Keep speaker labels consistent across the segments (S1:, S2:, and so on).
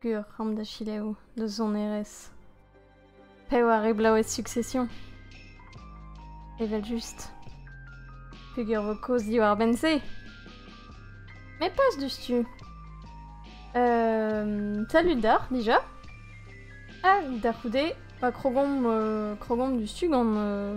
S1: Gwir c'hambr da selaou, da sonerezh. Pev a reblaoued Succession? Evel-just. Peger vo kaoz diwar-benn-se? Me pas diouzhtu. Euh, salut d'ar, déjà. Ah, da c'houde, pa krogomp, euh, krogomp diouzhtu gant euh,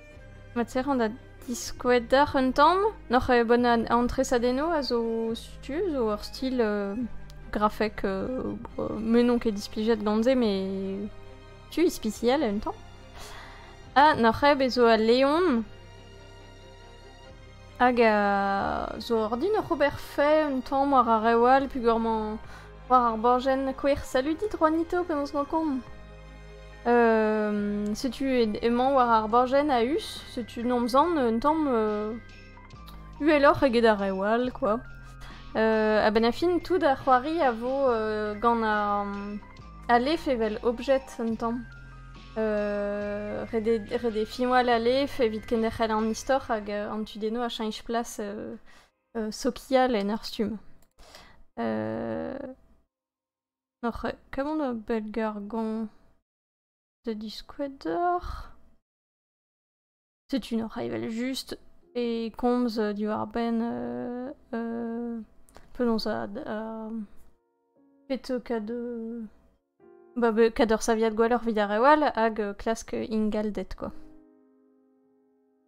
S1: Materan da diskouez deoc'h un tamm. N'oc'h ket bon an tresadennoù a zo setu zo ur stil euh, grafek euh, me n'on ket displijet gant se mais tu ispiciel un tamm. Ha n'oc'h ket bezo al leon hag euh, zo ordin oc'h ober fait un tamm war ar rewal pugur-mañ war ar borjenn kouer saludit Juanito penaos emañ komp. setu emañ war ar bajenn a-us, setu nomzan un tamm uheloc'h eget ar reoù all, quoi. A-benn a fin, tout ar c'hoari a vo gant al lef evel objet un tamm. ret eo finwal al lef evit kenderc'hel an istor hag an tudennoù a cheñch plas sokial en ur stumm. Oc'h kaout ur bellgargon da diskouez deoc'h, setu n'oc'h evel-just e komz diwar-benn penaos kad ur saviad gwelloc'h evit ar reoù all hag klask ingalded kwa.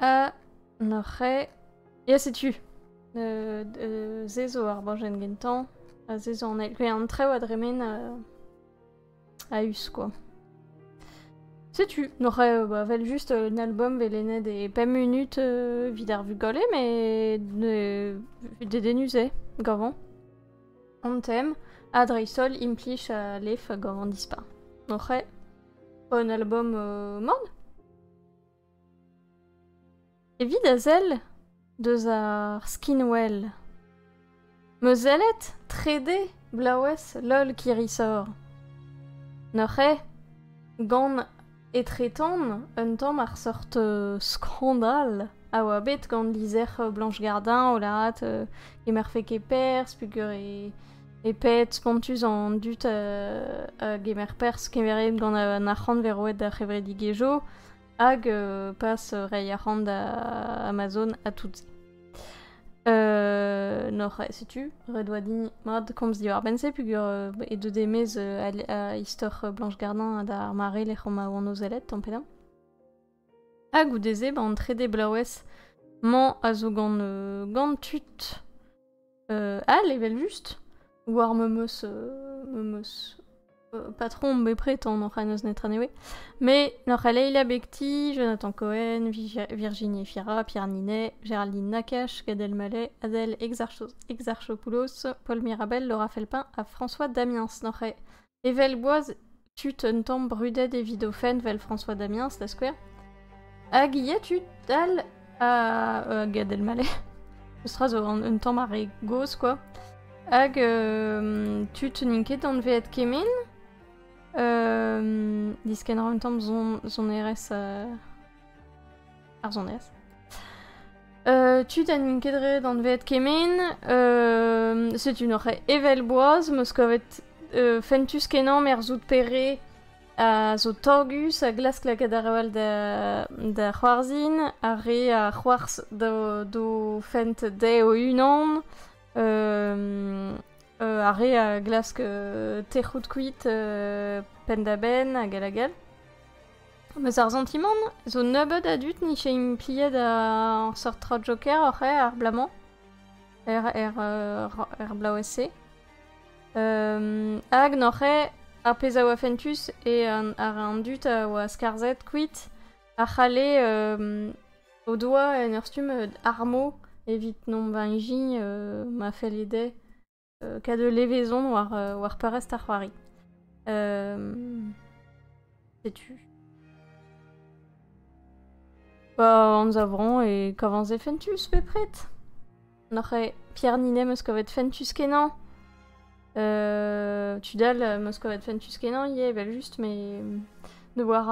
S1: A, n'oc'h ket... Ya, setu. Euh, euh, se zo ar bajenn gentañ, ha se zo an eil. Pe an traoù a dremen euh, a-us, quoi. Setu, n'oc'h euh, bah, vel just euh, un album velennet e pemp minut euh, vid ar vugale, mais ne dedenus eo, gavant. An tem, ha dreist-holl implij a lef gavant dispar. N'oc'h un album euh, man Evit a sell deus ar skinwell. Meus sellet trede bloavezh lol Kirisor. N'oc'h eo gant etretan un tamm ar sort euh, skandal a oa bet gant lizher Blanche Gardin o lâret euh, e marfe ket perzh peogwir e E pet spontus an dud euh, a gemer perzh kemeret gant an arc'hant vez roet d'ar c'hevredigezhioù hag euh, pas reiñ arc'hant da Amazon à tout-se. Euh, nor, setu, ret oa din mat komz diwar-benn-se, pugur euh, e deu demez euh, a, istor Blanche Gardin d'ar mare lec'h ma oan o zellet, tamm pedañ. Ha goude-se, ba, an trede blaouez 'mañ a zo gant, euh, gant tud euh, all evel-just. War memeus, euh, memeus euh, patron bepred an oc'h n'eus netra newe. Mais n'oc'h a Leila Bekti, Jonathan Cohen, Vigi- Virginie Fira, Pierre Ninet, Géraldine Nakache, Gad Elmaleh, Adèle Exarchopoulos, Paul Mirabel, Laura Felpin, à François Damiens. N'oc'h a Evel boaz, tud un tamm brudet evit o fenn, vel François Damiens, da skouer. Hag ivez tud all a... uh, Gad Elmaleh. Meustra zo un, un tamm ar re gozh, quoi. Hag euh, tud n'int ket anveet kemen. Euh, diskenner un tamm son, sonerezh... Uh, ar sonez. Euh, tud ha n'int ket ret anvet kemen. Euh, setu noc'h evel boaz, meus kavet euh, fentus kenañ merzout pere a zo tagus a glask lakaat ar ewel da, da c'hoarzin, ar re a c'hoarz do fent de o unan, euh, euh, ar re a glask uh, tec'hout kuit uh, penn da benn hag hag all. Meus ar santimant zo nebeut a dud n'ije impliet ar seurt tra joker oc'h eo ar bloaz-mañ er er er bloavezh-se hag n'oc'h eo ar pezh a oa fentus e ar an dud a oa skarzhet kuit a c'halle o doa en ur stumm armo evit nomp beñ-gi ma felle dezhe Kad ul levezon war, war peurrest ar c'hoari. Setu. Ba anzavron e kavanz e fentus bepret. Noc'h e Pierre Ninet meus kavet fentus kenan. Euh, tu dal meus kavet fentus kenan ie, vel just, me ne war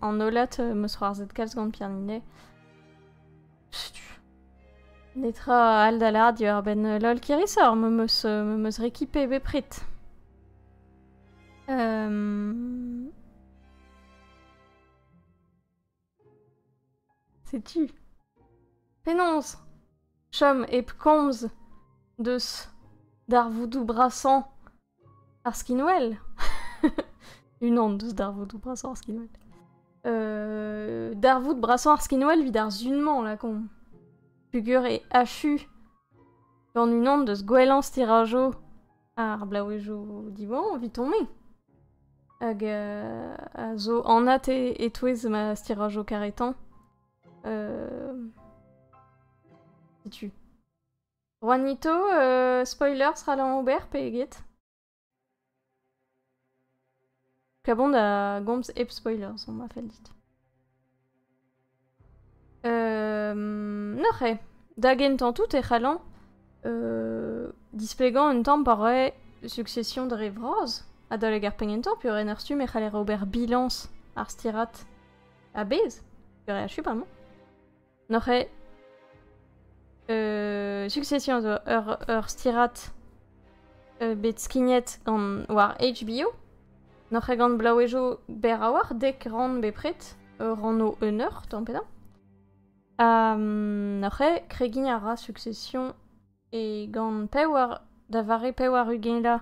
S1: an holat meus c'hoarzet kalz gant Pierre Ninet. Setu. Netra all da lâret diwar-benn lol Kirisor, me meus, me meus récupéré bepred. Euh... C'est-tu Pénonce Chom ep komz deus darvoudoù brasañ Ar skinwell Unan deus darvoudoù brasañ ar skinwell. Euh, darvoud brasañ ar skinwell evit ar sun-mañ, lakaomp. Pugur e achu gant unan deus gwellañ stirajoù ar blaouezhioù diwan evit on-me. Hag euh, a zo anat e- e-touez ma stirajoù karetañ. Euh, setu. Juanito, euh, spoilers ral an ober pe eget? Klabon da gomz hep spoilers, on m'a fait dit. Euh, noc'he, da gentan tout e c'hallan euh, displegan un tamm pa roe succession dre vras adalek ar pengentañ pu ren ar stumm e c'haller ober bilañs ar stirat a-bezh, ur re achu bremañ. N'oc'h ket... Euh, Succession zo ur, ur stirad euh, bet skignet gant war HBO. N'oc'h ket gant blaouezoù berr a-walc'h, dek rann bepred, ur rann o un eur, tamm pedañ. Ha um, n'oc'h ket kregiñ a ra Succession e gant pewar, da vare pewar ugela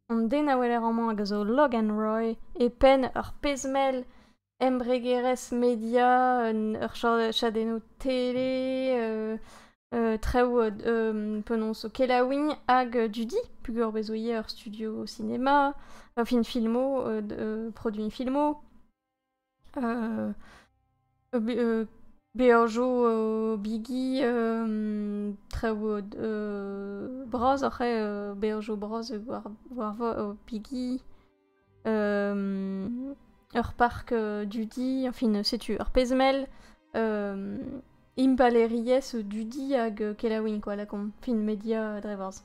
S1: an den a weler amañ hag a zo Logan Roy e penn ur pezh-mell embregerezh media, ur chadennoù tele, traoù penaos o kelaouiñ hag dudi, peogwir bez' zo ivez ur studio sinema, film filmo, produiñ filmo, beajoù bigi, traoù bras oc'h beajoù bras war bigi. ur parc dudi, enfin setu ur pezmel, impalaeriezh dudi hag kelaouiñ quoi, la con, fin media dre vras.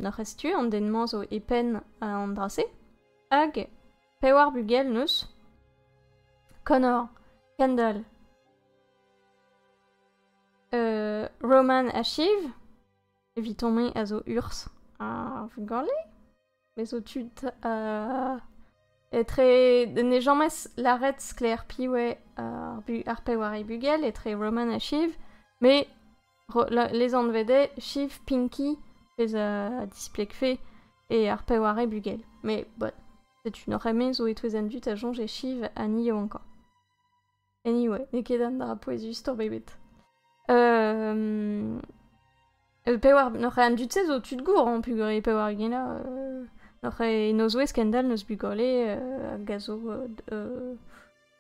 S1: Noc'h ez tu, an den-mañ zo e penn an dra-se, hag pewar bugel neus Connor, Kendall, Roman Ashiv, Evitomp-me a zo urs a vugale. Me zo tud uh, etre ne james laret sklaer piv eo ar, ar peware bugel etre Roman ha Shiv, me les anvede Shiv Pinky, pezh a displegfe, e ar peware bugel. Me, but, setu nor eme zo e touez an dud a soñje Shiv ha ni eo ankañ. Anyway, n'eo ket an dra pouezus-tour bebet. Euh... Pewar, n'oc'h an dud-se zo tud gour, hein, pugore pewar gena. Euh... N'oc'h nozouez kendal n'eus bugole euh, a gazo euh,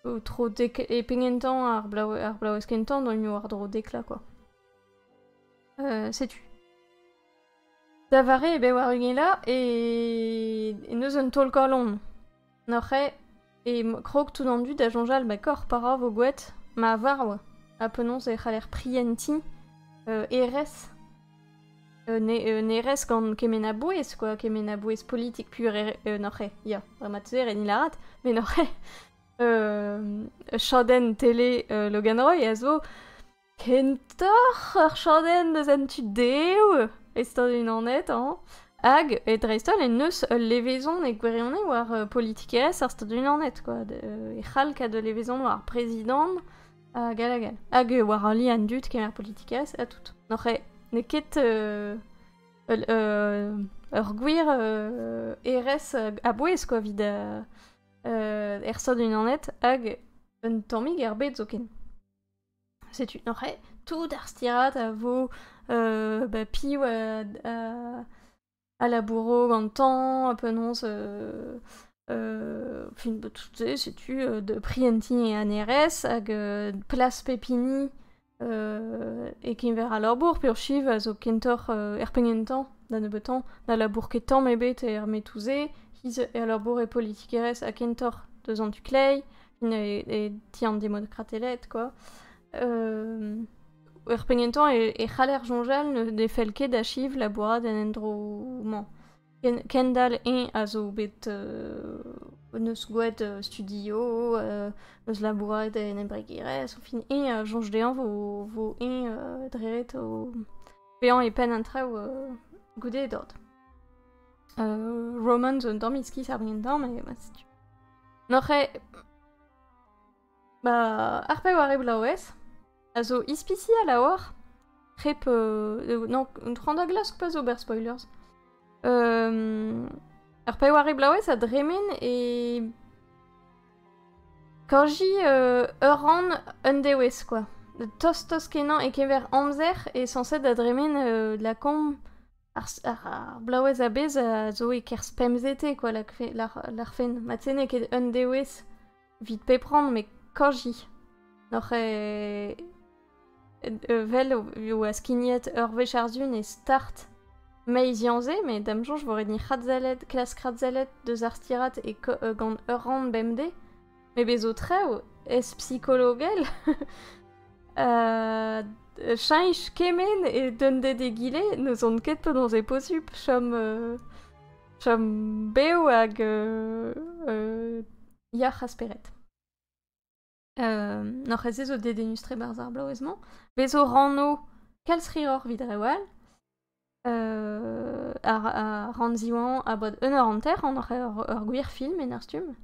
S1: euh, tro dek... E pengentañ ar blau, ar blaouez kentañ doimp war dro dekla, quoi. Euh, setu. Da vare e bewar ugela e... e neus un taol-kalon. Noc'hañ e krog tout an dud da soñjal ba korf pa ra vo gwet. Ma war oa. Ha penaos e c'haller prientiñ euh, hêrezh euh, ne, un hêrezh gant kement a bouez quoi, kement a bouez politik pur hêrezh- euh, noc'hañ ya, dre ma teuer e din lâret, mais noc'hañ euh, chadenn tele euh, Logan Roy a zo Kentoc'h ur chadenn eus an tu-dehoù e Stadoù-Unanet hañ hag e dreist-holl en deus ul levezon e gwirionez war euh, politikerezh ar Stadoù-Unanet quoi. De- euh, e c'hall kaout ul levezon war ar prezidant hag all hag all. Hag euh, war ali an dud kemer politikerezh ha tout. N'oc'h eo n'eo ket euh, ul- euh, ur gwir euh, erez euh, a-bouez quoi evit euh, euh, er Stadoù-Unanet hag un tammig er bed zoken. Setu neuze tout ar stiriad a vo ba piv a labouro gantañ, penaos fin ba tout se setu da prientiñ e anerezh hag plas pep hini e-keñver al labour peurchiv a zo kentoc'h er penn gentañ da nebeutañ na labour ket tamm ebet er metoù-se, he-z e labour e politikerezh ha kentoc'h deus an tu kleiz. e, ti an demokrateled, quoi. Euh, er pegnentañ e, e c'haller soñjal ne fell ket achiv labourat en endro-mañ. Kendal eñ a zo bet euh, neus gouet euh, studio, euh, neus labourat en embregerezh, au fin eñ a soñj dezhañ vo, vo eñ euh, dret o vezañ e penn an traoù euh, goude e dod. Euh, Roman zo un tamm iskis ar brientañ, mais ma setu. N'oc'h ket... Ma... ar pevar eblaouez a zo ispisial a-walc'h. Hep... Euh... Non, un tro an da glask pa zo ober spoilers. Euh... Ar pevar eblaouez a dremen e... Kanji euh, ur rann un dewezh, quoi. Tost-tost kenañ e-keñver amzer e sañset da dremen euh, la komb Ar blaouez a-bezh a zo e-kerzh pemzete kwa larc'hfen. Mat-se n'eo ket un dewezh evit pep rann met kajiñ. N'oc'h vel e oa skignet ur wech àr-du ne start meiziañ-se met da'm soñj e vo ret ni krazallet deus ar stirad gant ur rann bemdez. Me bezo traoù ez psikologel uh, cheñch kement e dunded egile n'ouzon ket penaos e posubl chom uh, chom bev hag uh, uh, yac'h a spered. Uh, N'oc'h ez zo dedennus-tre barzh ar bloavezh-mañ. Bezo ranno kalz hiroc'h vit rew all. ar Rann Ziwan abod un eur hanter, an ur gwir film en ur stumm.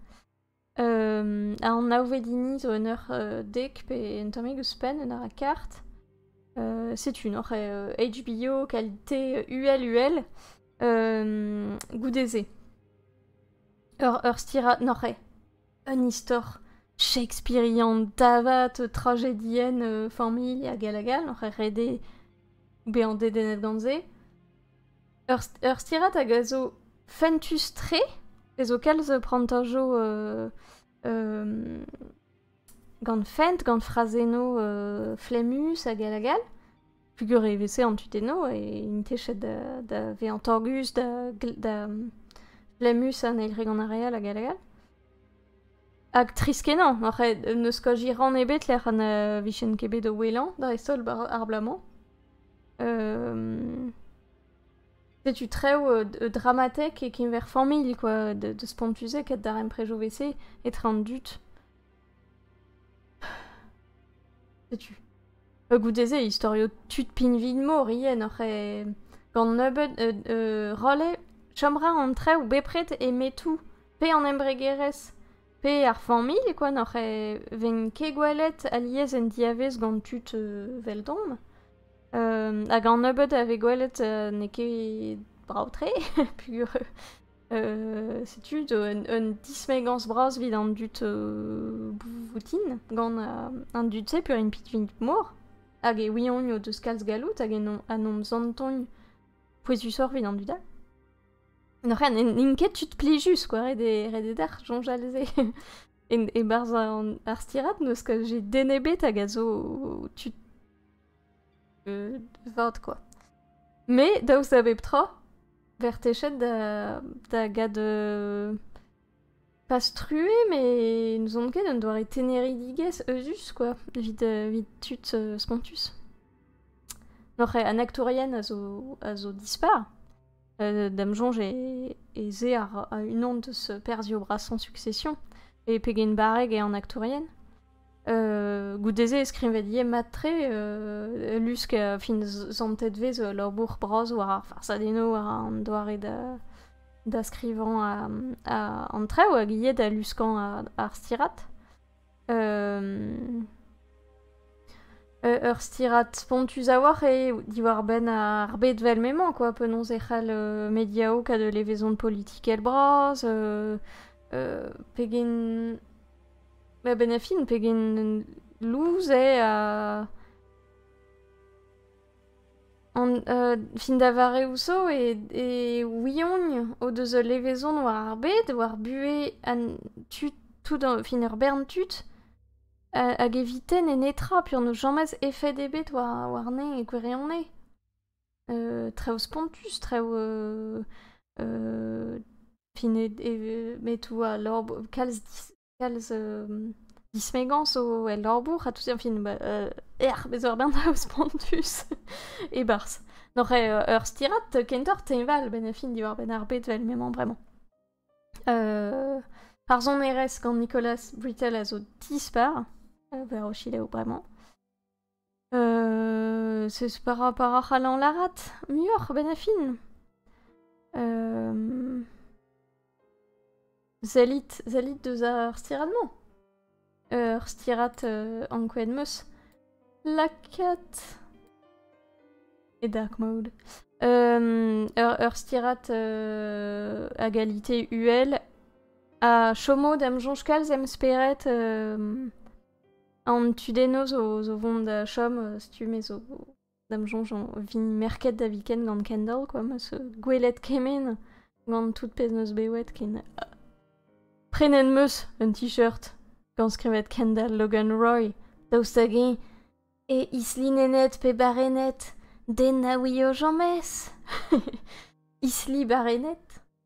S1: ar naouvedini zo un eur dek pe un tammig ouzhpenn, un eur ha kart. setu n'oc'h HBO, qualité, uhel uhel, goude-se. Ur stirad, n'oc'h ket? Un istor shakespearian davat, tragedienn familh hag hag hag oc'h rede bezañ dedennet gant se. Ur, ur stirad hag a zo fentus-tre, e zo kalz prantajo euh, euh, gant fent, gant frazennoù euh, flemmus hag hag hag pugur e veze an tudennoù e intechet da, da vezañ torgus, da, da flemmus an eil gant ar re all hag all hag all. Hag tris-kenañ, ar c'hed, ne skoaji rann ebet lec'h an uh, vijen ket bet o wellañ, dreist-holl ar bloaz-mañ. Um, setu trev uh, dramatek e keñver familh, quoi, de, de spontu-se, ket darempredoù vese etre an dud. Setu. E goude-se, historio tud pinvin-mor ien oc'h e... gant nebeud euh, euh, rolle, chom ra an trev bepred e metou, pe an embregerezh, pe ar familh, quoi, n'oc'h e ven ket gwelet alies en diavez gant tud euh, veldomp. Euh, hag an nebeud a ve gwelet euh, n'eo ket brao-tre, pur. setu un dismegañs bras evit an dud boutin gant an dud-se peurint piknik mor hag e ouiont o deus kalz galloud hag en hon santont pouezusoc'h evit an dud all. N'oc'h n'int ket tud plijus quoi, ret eo dec'h soñjal se. E-barzh ar stirad, n'eus ket j'ai den ebet hag a zo tud euh, vat quoi. Mais daoust da bep tra, ver techet da, da gad euh, pas struer, mais n'ouzon ket un doare teneridigezh eus quoi, vit, euh, vit tud euh, spontus. Noc'h an actourien a zo, a zo dispar, euh, d'am soñj ez eo ar, unan deus perzhioù-brasañ Succession, e pegen barreg eo an aktourien. Euh, goude-se e skrivet ivez mat-tre, euh, lusk a fin zantet vez labour bras war ar farsadennoù, war an doare da, da skrivañ a, an trev, hag ivez da luskañ ar stirat. ur stirad spontus a-walc'h eo diwar-benn ar bed vel m'emañ quoi. Penaos e c'hell mediaoù kaout levezon politikel bras, pegen... Ma benn ar fin, pegen lous eo ha... An fin da vareoù zo e ouiogn o deus ul levezon war ar bed, war buhez an tud, tout fin ur bern tud, hag evite n'eo netra peogwir n'eus james efed ebet warne e gwirionez. Traoù spontus, traoù fin metoù a lor kalz Kalz dismegañs zo el labour ha tout, enfin bah ec'h, bez' eur bern traoù spontus e-barzh. N'oc'h ur stirad kentoc'h teñval benn ar fin diwar-benn ar bed 'vel m'emañ bremañ. Ar sonerezh gant Nicolas Brittle a zo dispar, war o selaou bremañ. Seus par rapport a c'hallañ lârat muioc'h a-benn ar fin. sellit, sellit deus ar stirad-mañ. Ur stirad ankouaet 'm eus. Lakaat... e dark mode. ur stirad a galite uhel. Ha chom out am soñj kalz em spered An tudennoù zo vont da chom uh, stumm e zo da'm soñj o vin merket da viken gant Kendall quoi, ma so gwelet kement gant tout pezh neus bewet ken uh, prenet meus un t-shirt gant skrivet Kendall Logan Roy daoust hag-eñ e islinennet pe barennet den na ouio james isli barennet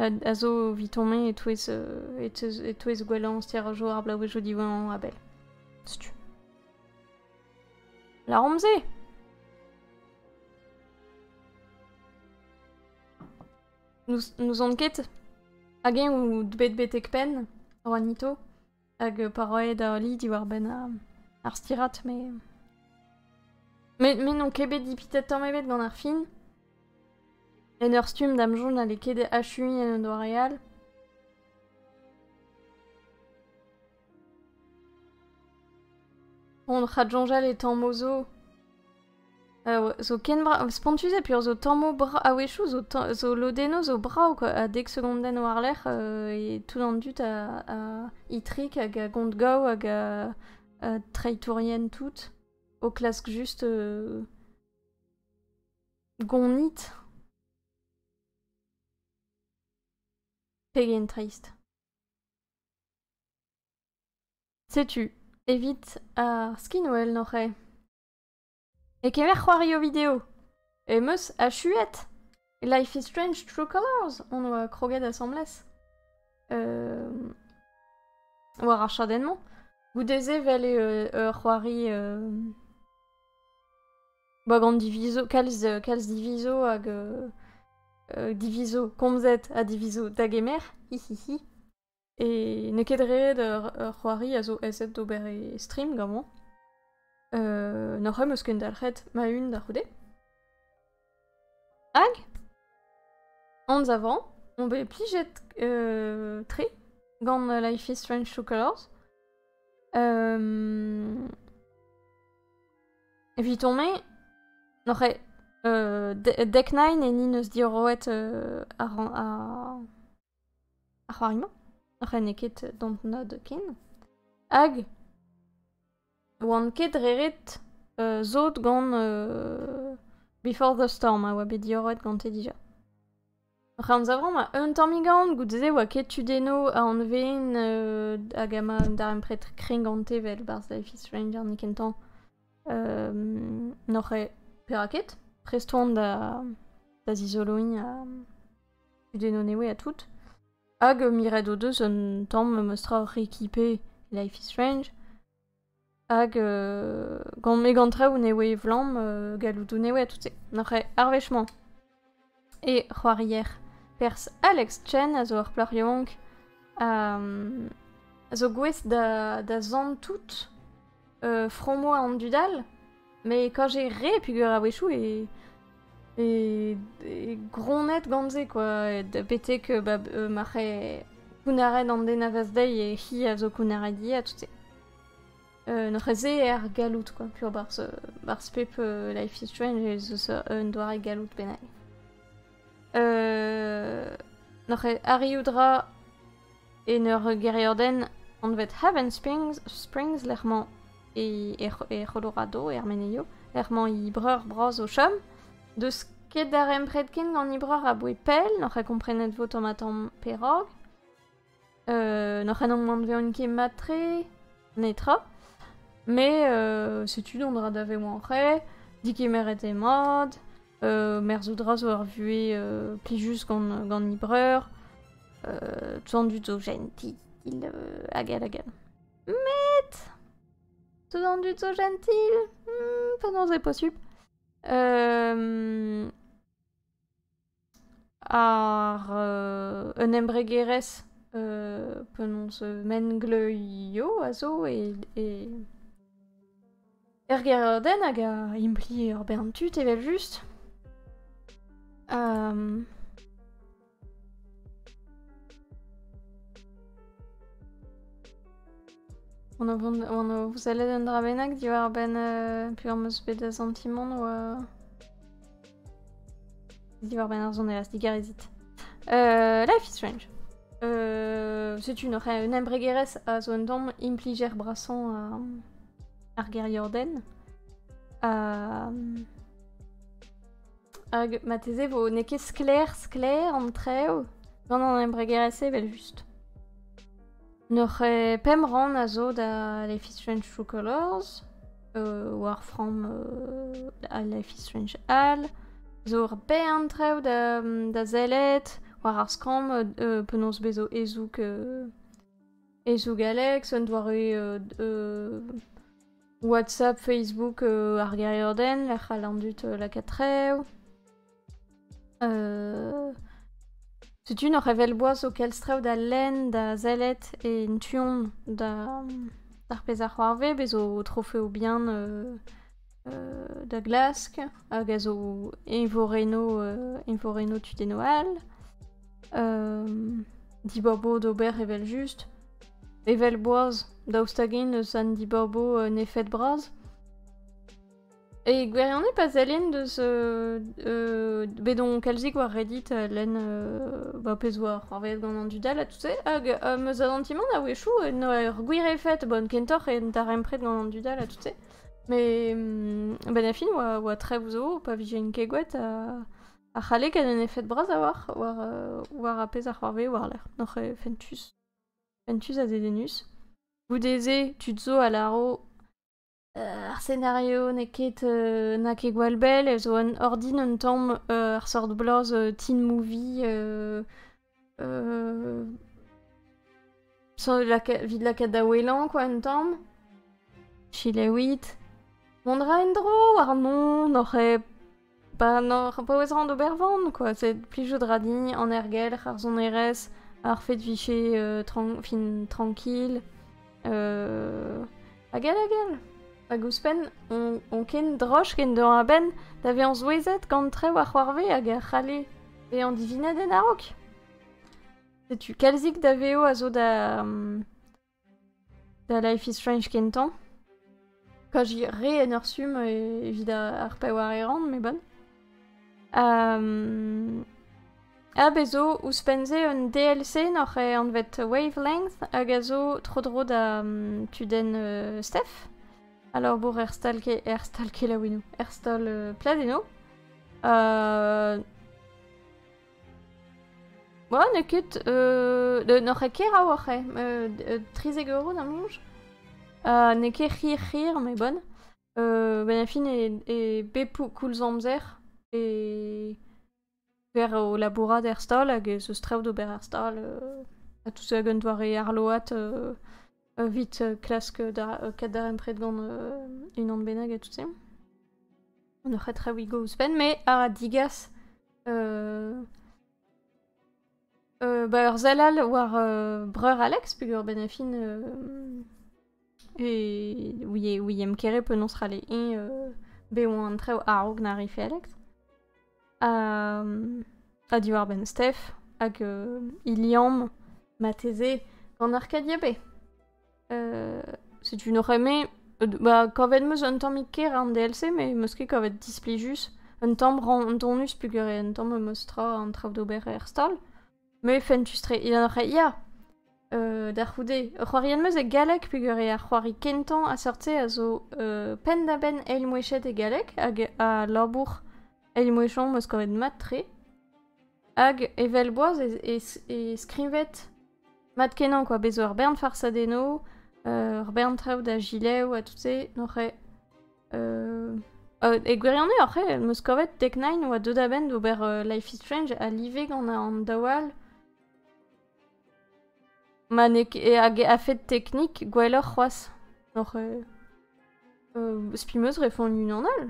S1: a zo eviton me e-touez e-touez gwellañ stêr-jour ar blaouezhioù diwezhañ a-bell. Setu. Laromp-se! N'ouzon ket hag-eñ out bet betek penn, Juanito? Hag euh, pa roe da Holly diwar-benn euh, ar stirad, mais... Mais, mais n'on ket bet dipitet tamm ebet gant ar fin. En ur stumm da'm soñj n'alle ket achuiñ en un doare Bon, Radjonjal étant mozo, zo ken brao spontus eo peoc'h zo tammoù bra a-wechoù zo zo lodennoù zo brav quoi a dek segondenn war-lerc'h e tout an dud a a itrik hag a gont gaou hag a treitourien tout o klask just gonit pegen trist setu evit ar skinwell n'oc'h-e E kemer c'hoari o video Em eus achuet Life is Strange True Colors on oa kroget asambles euh, war ar chadenn-mañ goude-se vel eo ur c'hoari euh, ba gant divizo kalz euh, kalz divizo hag euh, divizo komzet ha divizo da gemer hi hi hi Et n'eo ket ret ur, ur c'hoari a zo aezet d'ober e stream gamañ. Euh, N'oc'h em eus kendalc'het ma-un da c'houde. Hag anz avant on bet plijet euh, tre gant Life is Strange True Colors. Euh, Evit on me n'oc'h e- euh, De- Deck Nine e ni neus diorroet euh, ar, ar, ar c'hoari-mañ n'oc'h n'eo ket dontnod ken hag oan ket reret sot gant before the storm a oa bet diorroet gante dija hoc'h anzavomp eun tammig aon goude-se oa ket tudenno anveen hag ma un darempred kreñv gante vel barzh life is stranger n'eo ken tamm n'oc'h perak ket prest oan da zizoloiñ ha kudennoù newe ha tout. Hag miret o deus un tamm memestra oc'h ekipañ Life is Strange. Hag euh, gant me gant traoù newe evlamm euh, galloudoù newe ha tout-se. Nac'h eo ar wech-mañ. E c'hoarier Pers Alex Chen a zo ur plac'h yaouank a, um, a zo gouest da, da zant tout euh, fromo an dud all, mais quand j'ai ré pugur a-wechou e e, e gronnet gant-se quoi, e de betek euh, ba, euh, ma c'he kounnaret an den a vaz dezhi e hi a zo kounnaret dieat, tout-se. Euh, N'oc'h ez er galloud quoi, pur barz, euh, barz pep euh, life is strange ez eus un doare galloud bennak. Euh, N'oc'h arriout ra En ur gêriadenn anvet Havenspings, Springs lec'h mañ e, e, Colorado, er Menezio, lec'h mañ he breur bras o chom. Deus ket darempred ken gant he breur aboe pell, n'oc'h ket komprenet vo tamm-ha-tamm perak. Euh, n'oc'h en anveont ket mat-tre, netra. Me, euh, setu dont ra daveoù en re, dikemeret eo mat, merzout ra zo ur vuhez plijus gant, gant he breur. Tandut zo gentil, hag hag hag. Met... Tandut zo gentil hmm, Penaos c'est possible euh, Ar euh, un embregerez euh, penaos mengleuio a zo e, e Er gêr-den hag a implie ur bern tud evel-just. Um... vous allez d'un dra bennak diwar-benn euh, peurmeus bet da santimant ou... Euh, diwar-benn ar zon elastik, erizit. Euh, life is strange. Euh, c'est une, une embregerez a zo un dom impliger brasan ar geriodenn. Ha... Hag mateze vo n'eo ket sklaer sklaer an trev gant an embregerezh evel-just. N'oc'h pemp rann a zo da Life is Strange True Colors, euh, war from euh, Life is Strange Al, zo ur bern trev da, da zellet, war ar skramm euh, penaos bezo ezoug euh, E sougaleg, un doare WhatsApp, Facebook, ar gêriadenn lec'h all an dud lakaat rev. Setu nor evel-boaz o kelstrev da lenn, da sellet en tu-hont d'ar pezh a c'hoarve, bez' o trofeo bihan da glask hag a zo eñvorennoù eñvorennoù tudennoù all diborbo d'ober evel-just evel boaz daoust hag-eñ n'eus an diborbo en efed bras e gwirionez pa sellin deus bet on kalzik war reddit lenn ba pezh oa c'hoarvezet gant an dud all ha tout se hag am eus adantimant a-wechoù en ur gwir efed bon kentoc'h en darempred gant an dud all ha tout se Mais hum, ben la fille oa, oa très zo, pa vije une kegwet, a, a c'halle gant un effet bras a war, war, euh, war a pezh ar c'hoarve war-lec'h. Noc'h eo fentus. Fentus a dedenus. Goude-se, tu te zo a laro euh, ar scenario n'eo ket euh, na ket gwall bell, e zo un ordin un tamm euh, ar sort bloaz euh, teen movie euh, Euh... Vit lakaat da ouelañ, quoi, un tamm. Chilaouit. On ra en-dro ar mont n'oc'h pas n'oc'h pas ouez rand ober van, quoi. C'est plijout ra dign an ergelc'h, ar sonerezh, ar fait vicher euh, tran fin tranquille. Euh... Hag all hag all Hag ouzhpenn, on, ken droch ken deur a-benn da vezañ souezhet gant trev ar c'hoarve hag a c'halle bezañ divinat en a-raok. Setu kalzik da vezo a zo da... da Life is Strange kentañ. kaji re en ur summ evit ar paeañ a ran, met bon. Ha bez' zo ouzhpenn-se un DLC n'oc'h anvet Wavelength hag a zo tro-dro da tudenn Steph. Labour er stal er stal kelaouennoù, er stal pladennoù. Bon, n'eo ket... Euh, n'oc'h ket keraou oc'h eh? euh, trizek euro da moñj euh, N'eo ket hir-hir, mais bon. Euh, ben a fin e, e bep koulz amzer e per o labourat er stal hag ez eus traoù d'ober er stal. Euh, ha tout ça gant doare arload euh, evit klask da kat darempred gant unan bennak ha tout-se. N'o c'het re wigo ouzhpenn, me a digas euh, euh, bah, ur sell all war euh, breur Alex, peger ben a fin euh, e ouie, ouiem kere penaos rale eñ euh, be oa an trev a-raok na rife Alex. ha, diwar-benn Steph, hag euh, il liamm mateze gant Arcadia B. Euh, c'est une horreur, mais bah, kavet meus un tamm ker an DLC, mais meus ket kavet displijus. Un tamm randonus pugur un tamm meus tra an trav d'ober er stal. Mais fentus-tre, il en aurait, ya euh, Da c'houde, ur c'hoariad 'm eus e galleg peogwir eo ar c'hoari kentañ a seurt-se a zo euh, penn-da-benn eilmouechet e galleg hag a labour eilmouechañ 'm eus kavet mat-tre. Hag evel boaz e, e, e skrivet mat-kenañ quoi, bez' ur bern farsadennoù, euh, ur bern traoù da gilev ha tout se n'aurañ Euh... Euh, e gwirionez, oc'h eo, em eus kavet Tech9 oa deuet a-benn d'ober euh, Life is Strange a live gant an daou all. Ma ne hag a-fed teknik gwelloc'h c'hoazh. Oc'h... Euh, euh, Spimeus refont unan all.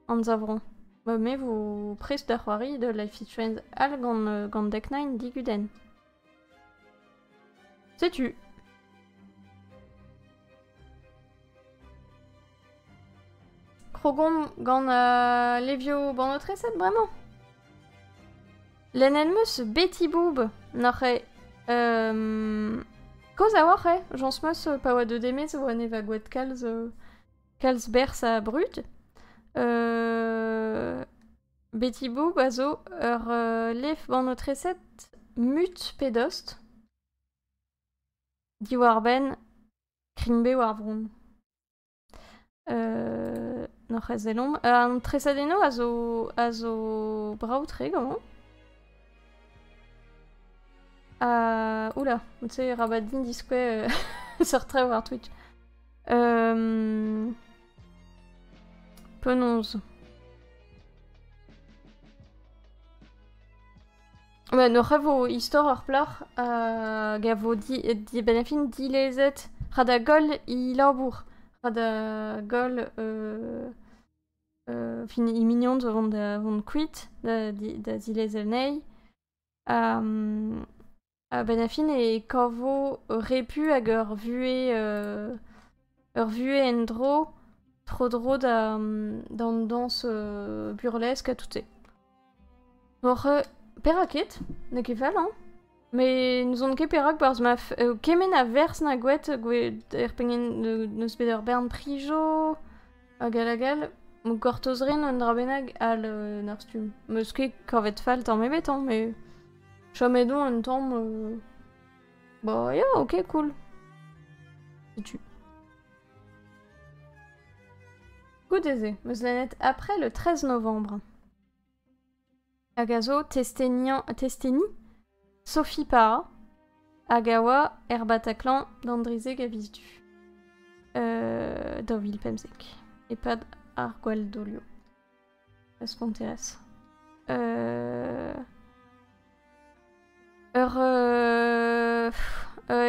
S1: Anzavron. Ma me vo prest da c'hoari de Life is Strange all gant, euh, gant Deck9 diguden. Setu Krogon gant euh, Levio banotreset bremañ Len elmeus beti boub Noc'h eo euh, Koz a-walc'h eo Jañs meus pa oa de demez oa ne va gwet kalz euh, Kalz berz ha brud euh, Betty Boop a zo ur lef-banotreset mut pe dost. Diwar-benn krinbev ar vronn. n'hoc'h eus selomp. an tresadennoù a zo a zo brav-tre ganeomp. Ha oula, tu sais, rabat din diskouez seurt traoù war Twitch. Penaos Bah, N'oc'h a vo istor ar plac'h hag a vo di, dibennafin dilezet ra da goll he labour, ra da goll euh, euh, fin he mignons vont da vont kuit da, di, da zilezel anezhi. Ha, A-benn ar fin e kavo ur repu hag ur vuhez euh, ur vuhez en-dro tro-dro da, d'an dañs euh, burlesque ha tout-se. Oc'h, euh, perak ket? N'eo ket fall, hein? Mais n'ouzon ket perak, parce ma f- euh, kement a verz na gouet gouet er pengen n'eus bet ur bern prijo, Hag hag-all, gortoz rin un dra bennak all en ar stumm. 'Meus ket kavet fall tamm ebet hañ, met chomet on un tamm... Ba ya, ok, cool. Setu. Goude-se, 'meus lennet après le 13 novembre. hag a zo testeni Sophie Para, hag a oa er Bataclan d'an drizeg a viz du. Euh, daou vil pemzek. E-pad ar gwall-dolio. Parce qu'on intéresse. Euh... Ur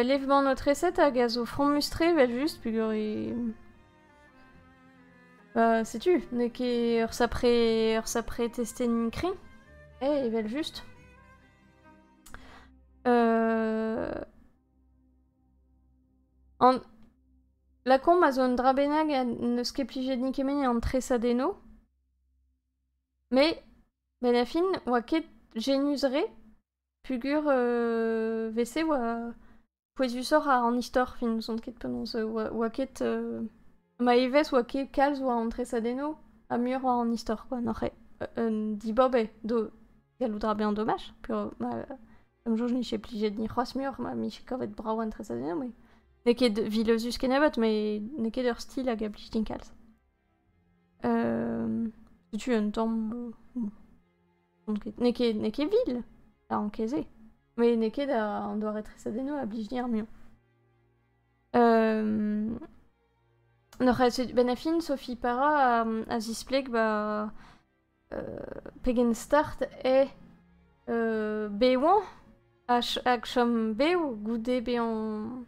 S1: levmann-aotreset hag a zo fromus-tre evel-just peogwir e... Bah, setu, n'eo ket ur sapre, ur sapre testenn kreñv, eh, evel-just. An... Lakaomp a zo un dra bennak ha n'eus ket plijet nikement an tresadennoù, mais Benn a fin, oa ket genius-re pugur euh, 'vese oa pouezusoc'h an istor fin, n'ouzon ket penaos. Oa, oa ket... euh, ma evezh oa ket kalz oa an tresadennoù ha muioc'h oa an istor kwa, n'oc'h ket un dibob eo d'o gallout dra bezañ domaj peogwir ma... d'am soñj n'ije plijet ni c'hoazh muioc'h ma m'ije kavet brav an tresadennoù met n'eo ket vileuzus kenebeut met n'eo ket ur stil hag a blij din kalz. Setu un tamm... N'eo ket, n'eo ket vil da encaisser. Mais n'eo ket un doare tresadennoù a blij dir muiañ. N'oc'h setu... Ben a fin, Sophie Para a, a zispleg ba... pegen start eo bevañ hag chom bev goude bezañ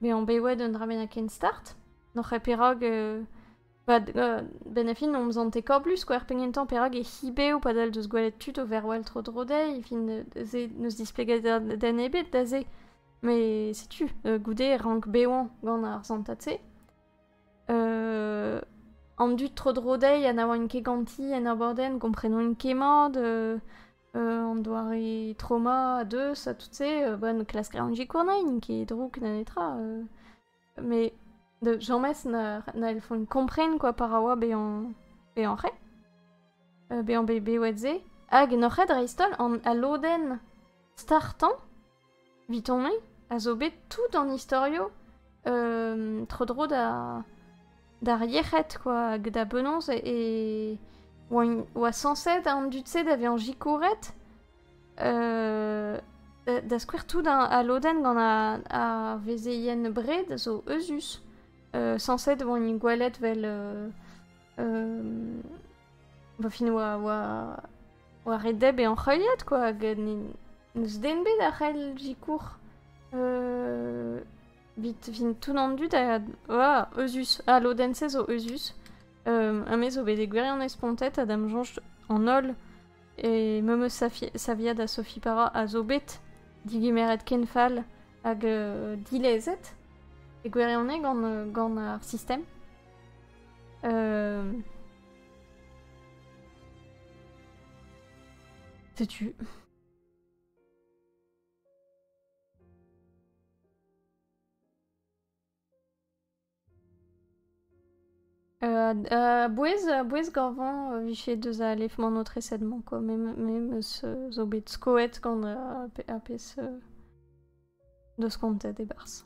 S1: bezañ bewet un dra bennak ken start. N'oc'h ket perak... benn a fin omp zante kablus koar pegen tamm perak e c'hi bev padal deus gwelet tud o verwal tro-dro dezhi. fin n'eus displeget den ebet da se. Met setu goude rank bevañ gant ar santad-se. euh, an dud tro-dro dezhi ha na oant ket ganti en abordenn komprenont kemmañ de euh, an doare trauma a deus ha tout se euh, bon klask a ran gikournain ket drouk na netra euh. mais de james na, na el font kompren quoi par a oa bezañ bezañ re euh, bezañ bet bewet se hag nor ket dreist-holl an alodenn startañ Vitonnet a zo bet tout an istorio euh, tro-dro da d'ar yec'hed quoi hag da benaos e oa sañset an dud-se da vezañ sikouret euh, da skouer tout al lodenn gant ar vezeien bred zo euzhus euh, sañset e voent gwelet 'vel va fin oa, oa, oa ret deb e anc'heuliad quoi, hag n'eus den bet a c'hell zikour euh, vit vin tout an dud a oa euzhus. Ah, lodenn-se zo euzhus. Euh, un mes zo bet e gwirionez spontet ha dam soñj an holl e memeus savia da Sophie Para a zo bet digemeret ken fall hag euh, dilezet e gwirionez gant, gant ar sistem. Euh... Sais-tu... Euh, euh, bouez, bouez Gorvan euh, viché deus a alefman notre esedman quoi, même, même ce zobet skoet gant euh, a pes euh, deus kontet e bars.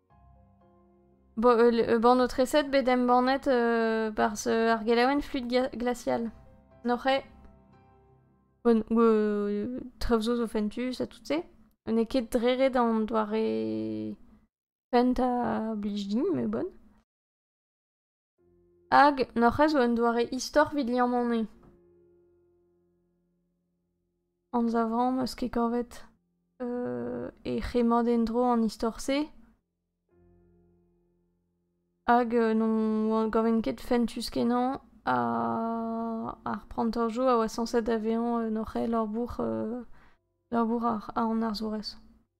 S1: Bon, euh, banotreset bet embannet euh, par ar gelaouenn Fluide Glacial. Noc'he, bon, euh, trevzo zo fentu, ça tout se. N'e ket drere d'an doare fent a blij din, mais bon. Hag n'hoc'h eus un doare istor evit liammañ anzavamp eus ket kavet e c'hemmat en-dro an istor-se hag n'on gaven ket fentus-kenañ ar prantajoù a oa sañset da vezañ en hoc'h eil labour ar arzourez.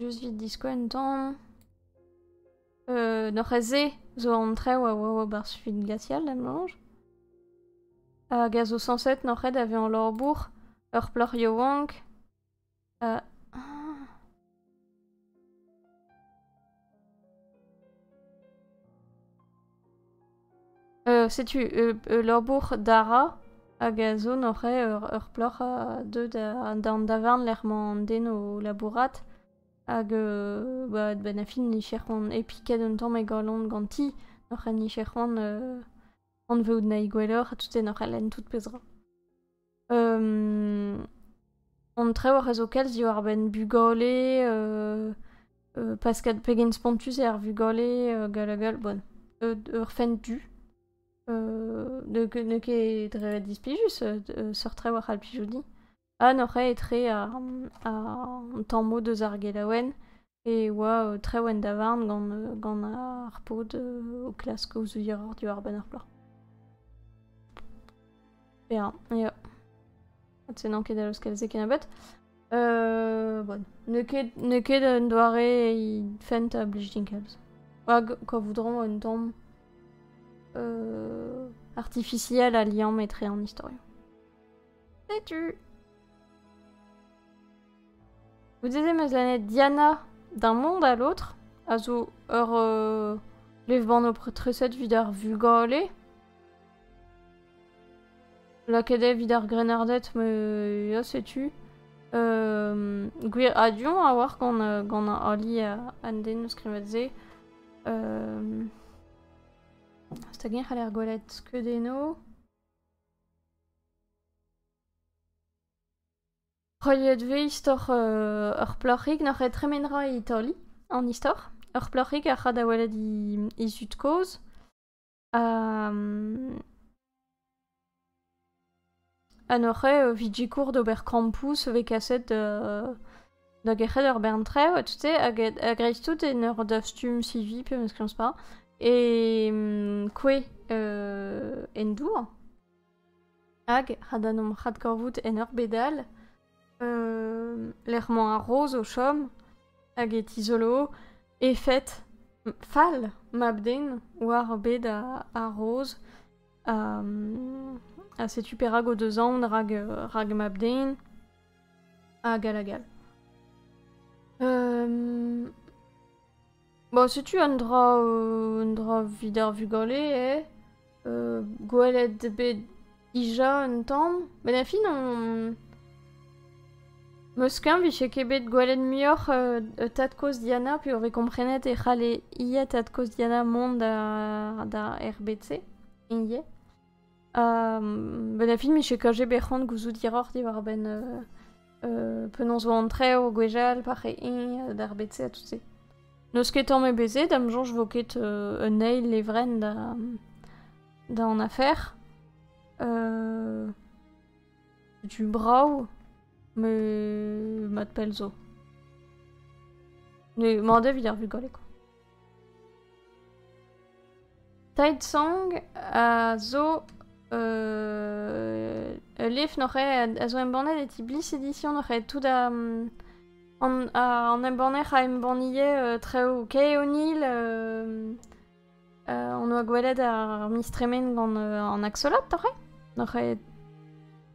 S1: Just vite disquen temps. Euh, norreze zo an trev a oa war bar suit gatial em lange. Hag a zo 107 norred a ve an lorbour, ur plac'h yaouank, setu labour Dara hag a zo neuze ur ur plac'h deuet d'an davarn lec'h m'an den o labourat hag ba benn ar fin niver c'hoant epiket un tamm e galon ganti neuze niver c'hoant anveout nahi gwelloc'h ha tout e neuze lenn tout pezh 'ra. Hon traoù a rezo kalz diwar-benn bugale, Pascal pegen spontus eo ar vugale gall ha gall. Bon, ur fent du. n'eo ket dre displijus seurt traoù a c'hall plijout din. Ha n'oc'h etre an tamm-mañ deus ar gelaouenn. e oa treuen davarn gant, gant ar paotr o klask o zoudiañ diwar-benn ar plac'h. Ya, ya. Se n'en ket da laoskel ket a bet. Euh, bon. N'eo ket, n'eo ket un doare fent a blij din kalz. Hag quoi voudront un tombe euh, artificiel à liam etre un historien. Setu Goude-se 'm eus lennet Diana d'un monde à l'autre, a zo ur euh, levrbanv treset evit ar vugale. Lakaet eo evit ar grennarded, me ya setu. Euh, gwir adion a oar gant, euh, gant ali a- an den o skrivet se. Euh, stag eñ c'haller gwelet skeud eno. Roiet vez istor ur plac'hig n'oc'h ket tremen 'ra e Itali an istor. Ur plac'hig a ra da welet he zud-kozh ha noc'he evit sikour d'ober kampoù so vez kaset da gerc'het ur bern traoù ha tout-se hag dreist-holl en ur dastum CV pe meus klañs pas e kouezh en dour. Hag, ha da nomp radkorvout en ur bed all, lec'h-mañ ar roz o chom, hag e tizolo efed fall mab-den war bed ar roz. Ha setu perak o deus aon rak mab-den, hag all hag all. Bon, setu un dra, euh, un dra evit ar vugale eo. Euh, gwelet eo bet dija un tamm. Met en fin, on... Meus keñv vije ket bet gwelet muioc'h euh, tad-kozh Diana peogwir komprenet e c'halle ivez tad-kozh Diana mont da, da RBC ivez. ben a fin miche kaje bet c'hoant gouzout hiroc'h diwar-benn penaos 'vo an trev o gwechall par e eñ d'ar bed-se ha tout-se. N'eus ket tamm ebet se da'm soñj 'vo ket un eil levrenn da da an afer. setu brav met mat pell zo. Mañ-da evit ar vugale kwa. Taidsong a zo euh, ul lef noc'haet a zo embannet e ti Bliss Edition noc'haet tout a an, an embanner a embannie euh, traoù Kay O'Neill euh, euh, on doa gwelet ar miz tremen gant an Axolot noc'haet noc'haet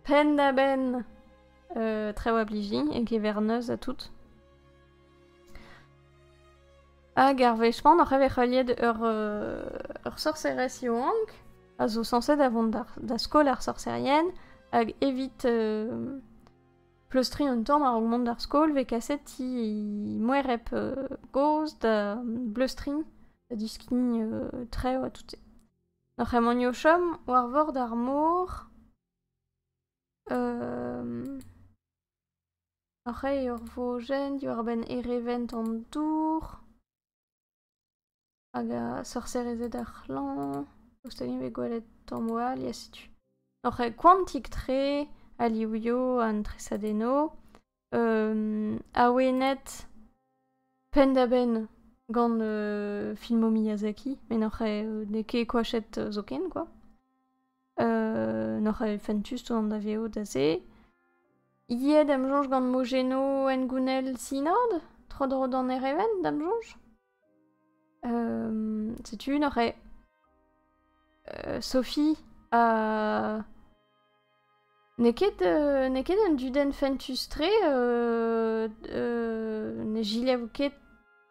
S1: penn da benn traoù a bliji e keverneuz ha tout Hag ar wech-mañ oc'h evet heuliet ur, euh, ur sorserez yaouank a zo sañset da vont da, da skol ar sorserien hag evit euh, pleustriñ un tamm a-raok mont d'ar skol vez kaset he moereb euh, gozh da bleustriñ, da diskign euh, trev ha tout-se. N'oc'h emañ o chom war vor d'ar mor. Euh, Rei ur vojenn diwar-benn erevent an dour hag sorserezed ar c'hlañv, daoust hag eñ bet gwelet tammoù all, ya setu. Oc'h koantik-tre, alioùioù, an tresadennoù, awenet penn-da-benn gant filmoù Miyazaki met n'oc'h n'eo ket koachet zoken kwa. N'oc'h fentus tont da vezout aze. Iet em soñj gant mojennoù hengounel sinod, tro-dro d'an Ereven, da'm soñj. setu n'oc'h Sophie ha... N'eo ket, euh, n'eo ket un dudenn fentus-tre. euh, euh, ne giliavo ket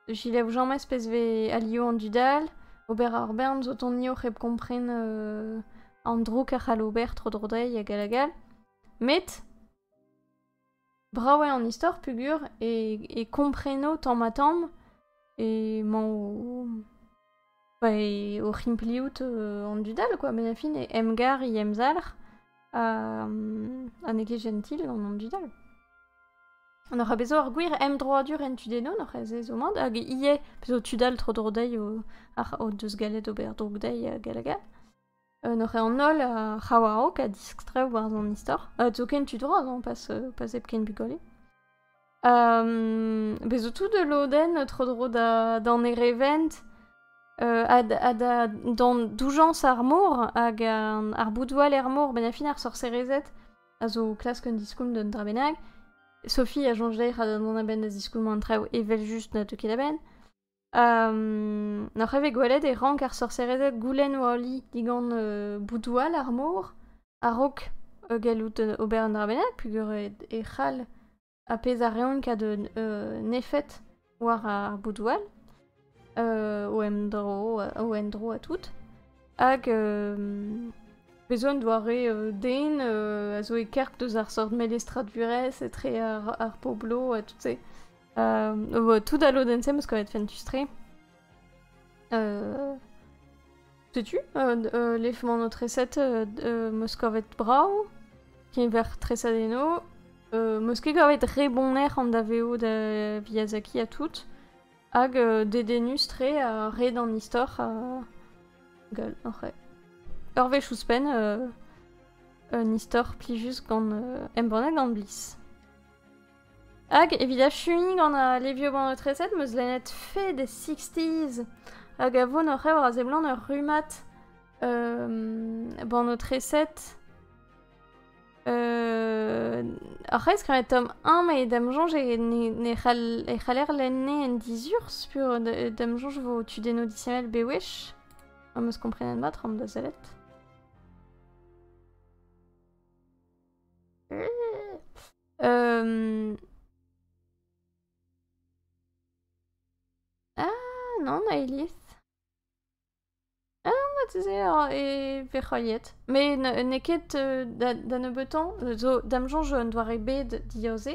S1: giliavo james pezh vez alio an dud all. Ober ar bern zo tonio hep kompren euh, an droug a c'hall ober tro-dro dezhi hag all hag all. Met Brav eo an istor peogwir e, kompreno tamm-ha-tamm emañ o, o c'himpliout an dud all quoi. Met fin e emgar e emzalc'h ha n'eo ket jentil gant an dud all. N'oc'h bet zo ar gwir emdroadur en tu denon oc'h ez ez ho mad hag ivez zo tud all tro-dro dezhi o deus gallet ober droug dezhi hag all hag all. En hoc'h an holl a ra war-raok a diskstrev war an istor. Uh, zoken tu droaz hein, pas, euh, pas hepken bugale. Um, Bez zo tout de loden tro-dro da, d'an erevent euh, ha, ha da, d'an doujañs ar mor hag an, ar boudoal er mor ben a fin ar sorserezet a zo klask un diskoulm d'un dra bennak. Sophie a soñj d'an a benn da ziskoulm an traoù evel just na teu ket da benn. N'oc'h evez gwelet e rank ar sorserezed goulenn o ali digant boudoù all ar mor a-raok gallout ober un dra bennak peogwir e c'hall ar pezh a reont kaout un efed war ar boudoù all o endro o endro ha tout. Hag bez' un doare den a zo e-karg deus ar seurt melestradurezh etre ar ar pobloù ha tout se. e vo tout da lodenn-se meus kavet fentus-tre. Euh... Setu, euh, euh, l'effement notre recette euh, euh, meus kavet brav, keñver tresad eno. Euh, meus ket kavet re bonner an daveo da Miyazaki ha tout. Hag euh, dedennus tre ha re d'an istor. Uh... Gueule, oc'h Ur wech ouzhpenn, euh, un istor plijus gant euh, embannet gant Bliss. Hag evit achuiñ gant al levioù-banotresed 'm eus lennet Fed sixties hag a vo oc'h eur a seblant ur rummad banotresed. Ar c'hreiz kavet Tom Hamm e da'm soñj ne c'hall e c'haller lenn-ne en dizurzh p'eo da'm soñj 'vo tudennoù disheñvel bewech. Am eus komprenet mat c'hoant da sellet. non, Aelis. Ah, tu sais, e vez c'hoariet. Mais n'eo ket da nebeutan, zo da'm soñj un doare bet diaoze.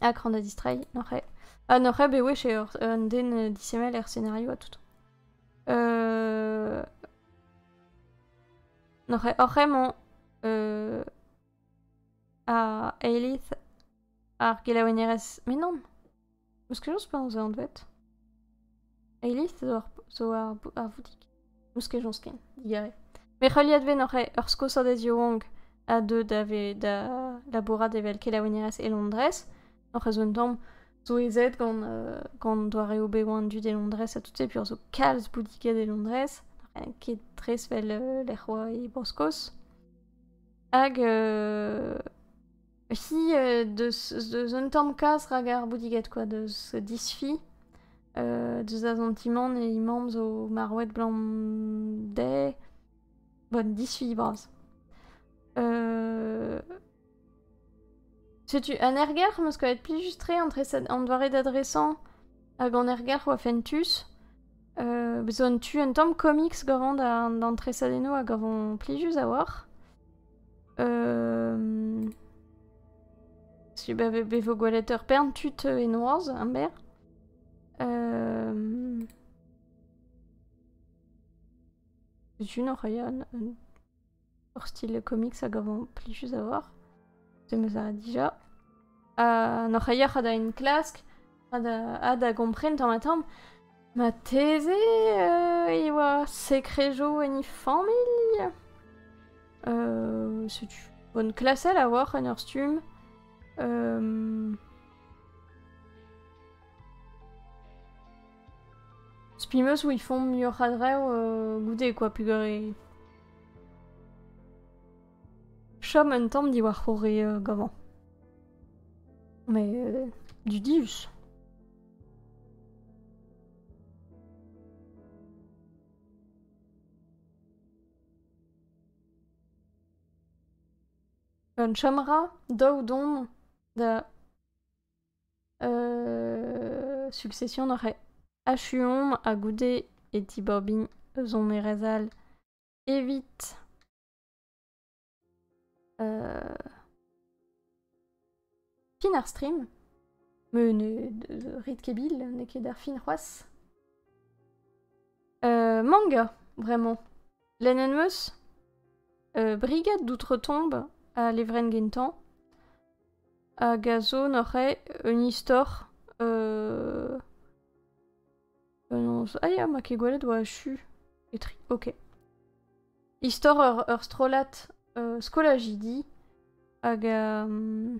S1: Akran da distreiñ, n'oc'h ket. Ha n'oc'h ket bet wech eo un den disemmel er scenario ha tout. Euh... N'oc'h ket oc'h emañ euh... ar eilith ar gelaouennerez Menon? Eus kejañs penaos eo anvet? Eilith zo ar Voudig. Eus kejañs ken, digare. Met heuliadvet oc'h ur skosodez yaouank ha deuet da labourat evel kelaouinerez e Londrez. Oc'h ez un tamm zo ezed gant, gant doareoù bevañ an dud e Londrez ha tout se, peogwir zo kalz boudiged e Londrez. Ket tres vel lec'h oa e Bro-Skos. Hag Hi, euh, deus un tamm kas rak ar boudiged quoi, deus disfi, euh, deus da zantimant e imam zo marwet blam dezhe, bon, disfi bras. Euh, setu un ergelc'h am eus kavet pil just tre entre an doare d'adresañ hag an ergelc'h oa fentus. Euh, zo un tu un tamm comics gavon d'an tresadennoù a gavon plijus a-walc'h. Euh... Si, bah, be vo gwelet ur pern tud e noazh, am ber. Euh... C'est une Ryan. Leur style comics a gavan plijus avoir. C'est me ça déjà. Euh, Nor a une classe Ha da gompren tamm-ha-tamm, marteze e oa sekrejo en he familh? setu bonne klasel a oar en ur stumm. Spi meus ils font muioc'h a drev goude quoi, pegwir chom un tamm diwar c'horre gavañ. Mais euh, du Dius Gant chomra daou domp da euh, succession nor achuomp ha goude e tibobin eus hon erezal evit Euh... Fin ar stream. Mais ne de rit kebil, n'eo ket ar fin c'hoaz. Euh, manga, vraiment. Lenenmeus, euh, brigade d'outre-tombe a levren gentañ, hag a zo n'oc'h un istor euh, Penaos Ah ya, ma ket gwelet oa achu. Etri, ok. Istor ur, ur strollad euh, skolajidi hag euh,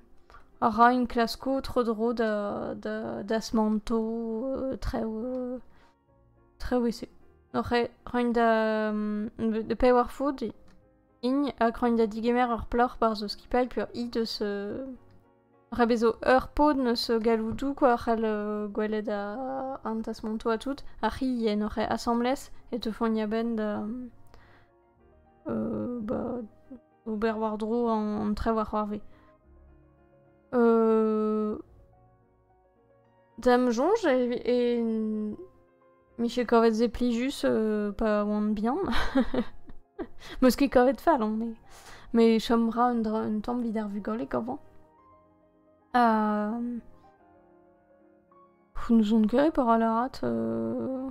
S1: a ra un klasko tro-dro da, da, da smanto euh, trev euh, trev ese. Roiñ da um, de pay war food ign hag roiñ da digemer ur plac'h barzh skipailh pe ur i deus euh, Ra bezo eur paotr eus galloudou kwa a c'hall gwelet an tasmantou ha tout, ar c'hilien oc'h asambles e teufont a-benn da ba ober war-dro an trev ar c'hoarve. D'am soñj e miche kavet se plijus euh, pa oan bihan. Meus ket kavet fall on, me. Me chom ra un, dra, un tamm vid ar vugale gavañ. Ha... N'ouzon ket e para lârat... euh,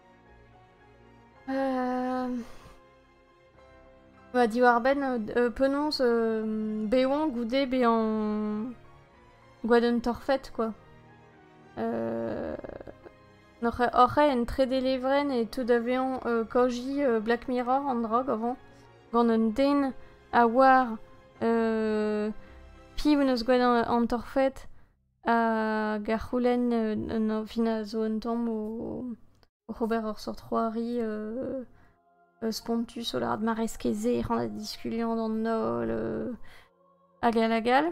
S1: Euh... Bah diwar-benn euh, penaos euh, bezañ goude bezañ gwadenn torfed quoi. Euh... Oc'h en trede levrenn e teu da vezañ euh, kaoji euh, Black Mirror an drog avant. Gant un den a oar euh, piv en eus gwelet an torfed Hag a c'houlenn un añvin a zo un tamm oc'h ober ur seurt c'hoari spontus o lâret mareskez-se, ec'h an da diskuliañ d'an holl, hag all hag all.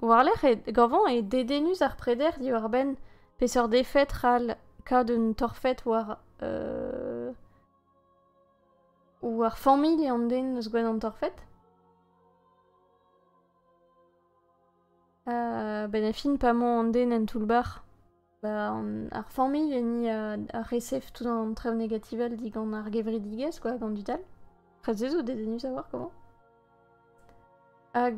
S1: War-lerc'h eo gañvañ eo dedennus ar preder diwar-benn peseurt defed c'hall kaout un torfed war war familh an den eus gwenn an torfed. Benn ar fin pa 'mañ an den en toull-bac'h, ba ar familh enni ar resef tout an traoù negativel digant ar gevredigezh quoi, gant tud all. Prest ez out dedennus a-walc'h komañ. Hag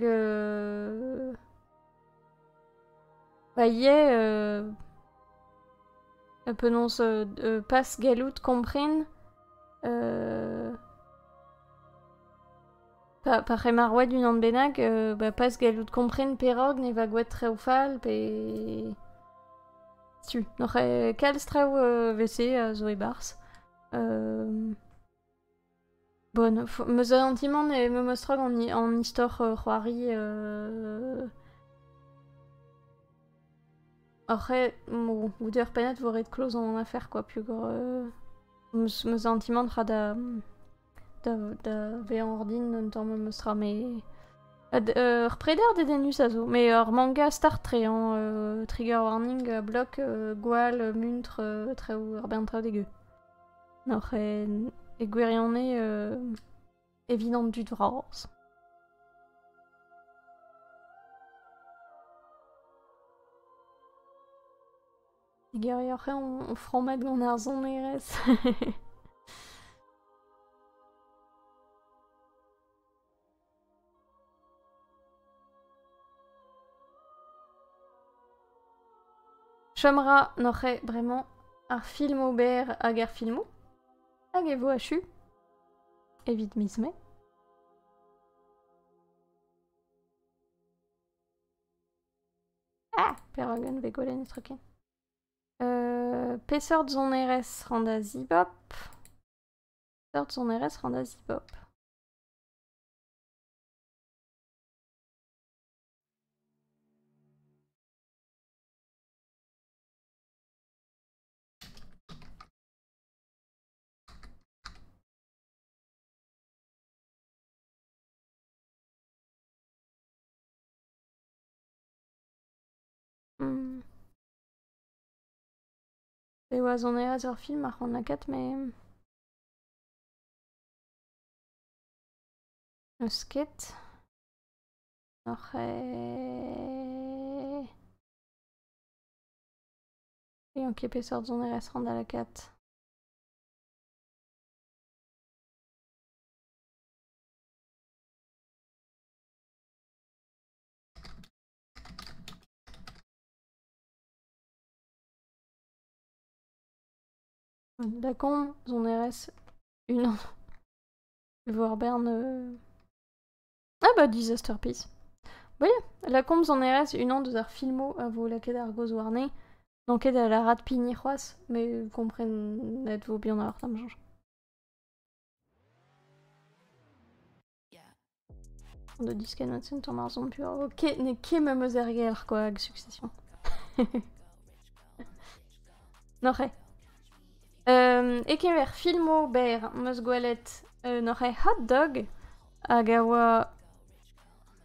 S1: ba ivez penaos pas gallout kompren Pa, pa c'hemar oad unan bennak, euh, bah, pas gallout kompren perak ne va gwet traoù fall pe... Tu, n'oc'h eh, kalz traoù euh, vese a zo e-barzh. Euh... Bon, f- meus antimant e meum estrog an, i- an istor euh, c'hoari. euh, Oc'h eo mo- goude ur pennad vo ret kloz an afer, quoi, pugur... euh, meus meus antimant ra da... da vezañ ordin un tamm memes tra met ur preder dedennus a zo met ur manga start tre hañ trigger warning block gwall muntr traoù ur bern traoù degeu n'oc'h e gwirionez evit an dud vras Gerioc'h eo ho frammet gant ar sonerezh. Chom 'ra n'oc'h eo bremañ ar film ober hag ar filmoù hag e vo achu evit miz Mae. Ah, perak int bet gwelet netra ken? Euh, peseurt sonerezh ran da zibop? Peseurt sonerezh ran da zibop? E Roazhon e az ur film ar c'honaket met... N'eus ket. N'oc'h Ean ket peseurt sonerezh rand da lakaat. Da con, sonerezh, unan. Voir Bern... euh, Ah bah Disaster Piece. Oui, la combe sonerezh, une an deus ar filmoù a vo lakaet ar gaoz warne. N'on da la rat pign c'hoazh, mais vous comprenez vo bien ar am change. De disken at ton ar zon pur. Ok, n'e ket me meus ergelc'h quoi hag succession. Noc'he. Um, e kemer filmo ber meus gwelet uh, noc'he hot dog hag a oa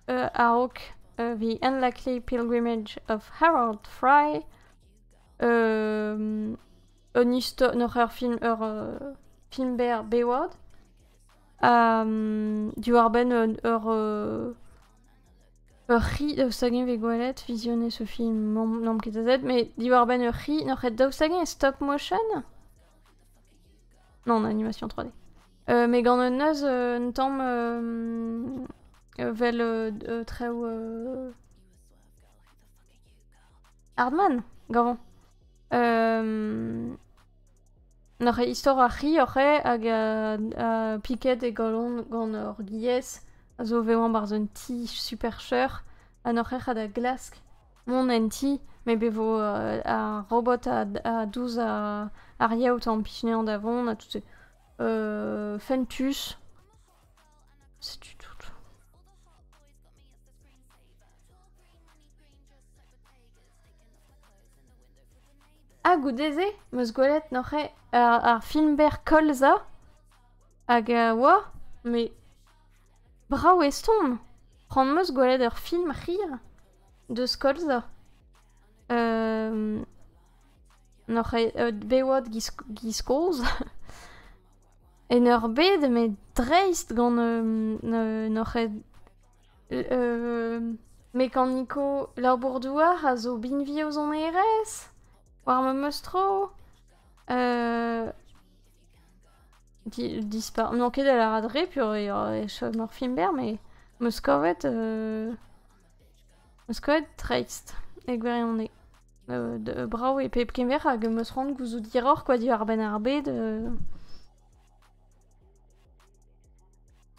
S1: uh, a-raok uh, the Unlikely Pilgrimage of Harold Fry um, un histor, noc'h ur film ur uh, film ber bewad diwar-benn ur ur c'hi daoust hag-eñ vez gwelet fizione ce film n'omp ket azet mais diwar-benn ur c'hi n'oc'h ket daoust hag-eñ e stop motion non animation 3D mais gant un neuz un tamm vel traoù Hardman gant Nac'h eo istor ar c'hi oc'h eo hag piket e galon gant ur giez a zo vevañ barzh un ti super cheuc'h ha n'oc'h ket da glask mont en ti met be vo ar robot a dous ar yaout a implij anezhañ da vont ha tout se. fentus. Setu tout. Ha goude-se, 'm eus gwelet neuze ar film-berr Colza, hag a oa, mais brav e stourm. C'hoant 'm eus gwelet ur film hir deus Colza. Neuze bewad giz kozh. En ur bed met dreist gant neuze Mekaniko labour-douar a zo binvi o sonerezh war memes tro. dispar... N'on ket da lâret re peogwir e chom ur film berr met 'meus kavet... 'meus kavet dreist e gwirionez. brav e pep kemer hag 'meus c'hoant gouzout hiroc'h kwa diwar-benn ar bed.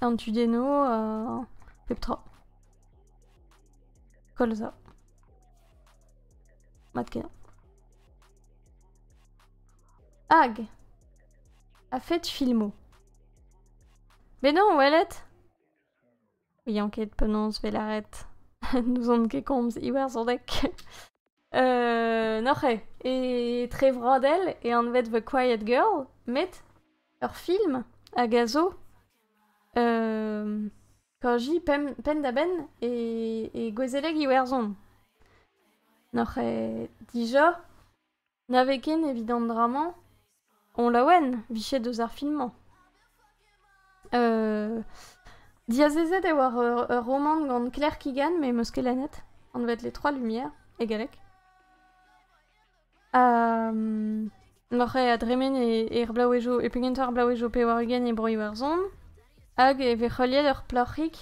S1: An tudennoù, euh, pep tra. Koll za. Mat kenañ. Hag a-fet filmoù. Mais non, Ouellet ouian ket penaos 'vez lâret. N'ouzon ket komz iwerzhoneg. Euh, N'oc'h eo etre Vradell e anvet The Quiet Girl, met ur film hag a zo euh, kaji penn, penn-da-benn e, e gouezeleg Iwerzhon. N'oc'h eo dija Na vez ken evit an dra-mañ on laouen 'vijet eus ar film-mañ. Diazezet eo war ur romant gant Claire Keegan met 'm eus ket lennet, anvet Les Trois Lumières e galleg. N'oc'h ket a dremen er blaouezhioù e pegentañ ar blaouezhioù pe war-ugent e Bro-Iwerzhon hag e vez heuliet ur plac'hig.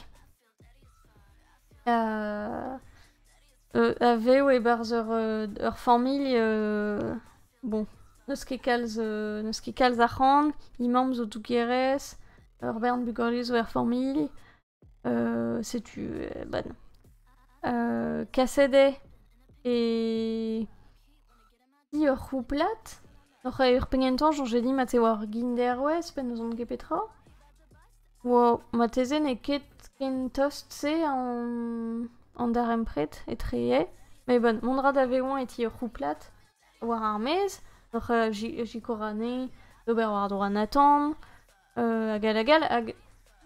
S1: A vev e-barzh ur familh bon n'eus ket kalz n'eus ket kalz arc'hant. He mamm zo dougerez, ur bern bugale zo er familh. setu kaset eo e Di ur c'houplad, oc'h eo ur penn gentañ soñjet dit mat e oa ur genderwezh pe n'ouzon ket petra. marteze n'eo ket ken tost-se an darempred etreze. Met bon, mont a ra da vezañ e ti ur c'houplad war ar maez, oc'h sikour anezhi d'ober war-dro an atant. hag hag hag hag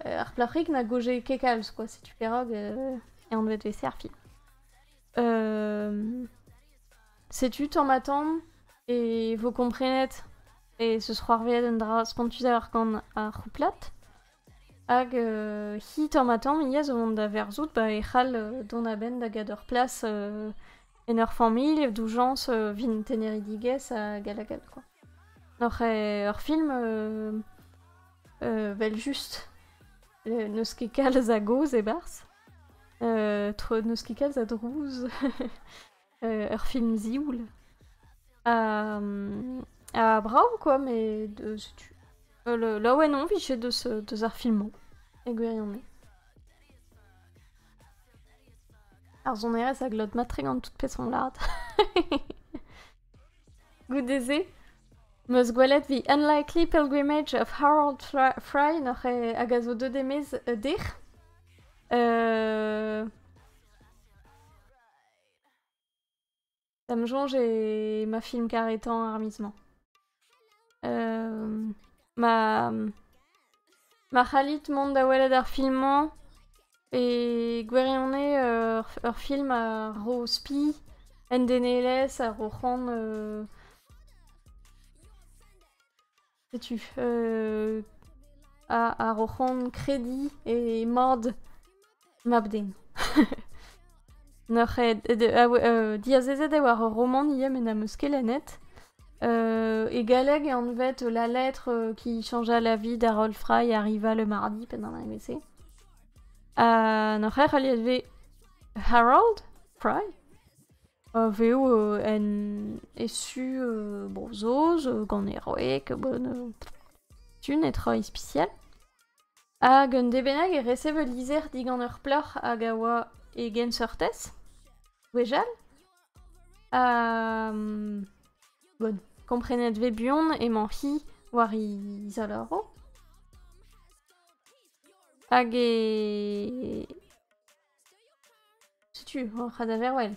S1: ar plac'hig na goje ket kalz, quoi, setu perak eh eo anvet he serfi. setu tamm-ha-tamm e vo komprenet e seus c'hoarvezet un dra spontusoc'h gant ar c'houplad. Hag hi tamm-ha-tamm hi a zo vont da verzout ba e c'hall dont a-benn da get ur plas en ur familh, doujañs, vin teneridigezh hag hag hag quoi. Oc'h ur film evel-just, n'eus ket kalz a gaoz e-barzh, n'eus ket kalz a drouz, ur film zioul. Ha brav quoi, met setu laouen on 'vit deus ar film-mañ, e gwirionez. Ar sonerezh a glot mat-tre gant tout peseurt lard. Goude-se, 'm eus gwelet The Unlikely Pilgrimage of Harold Fry noc'h eo hag a zo deuet e-maez dec'h. Da'm soñj eo ma film karetañ ar miz-mañ. ma ma c'hallit mont da welet ar film-mañ e gwirionez ur film a ro spi en denelezh a ro c'hoant setu a ro c'hoant krediñ e mod mab-den. Nac'h eo, diazezet eo war ur romant ivez met n'am eus ket lennet. e galleg e anvet La lettre qui changea la vie d'Harold Fry arriva le mardi, pennañ an evezh-se. Ha nac'h eo heuliet vez Harold Fry? Vev en e su Bro-Saoz, gant heroek, tu netra ispisial. Hag un dez bennak e resev ul lizher digant ur plac'h hag a oa e genseurtez, gwechall. Ha bon, komprenet vez buan emañ-hi war he zalaroù. Hag e... Setu hor c'hadaverwell.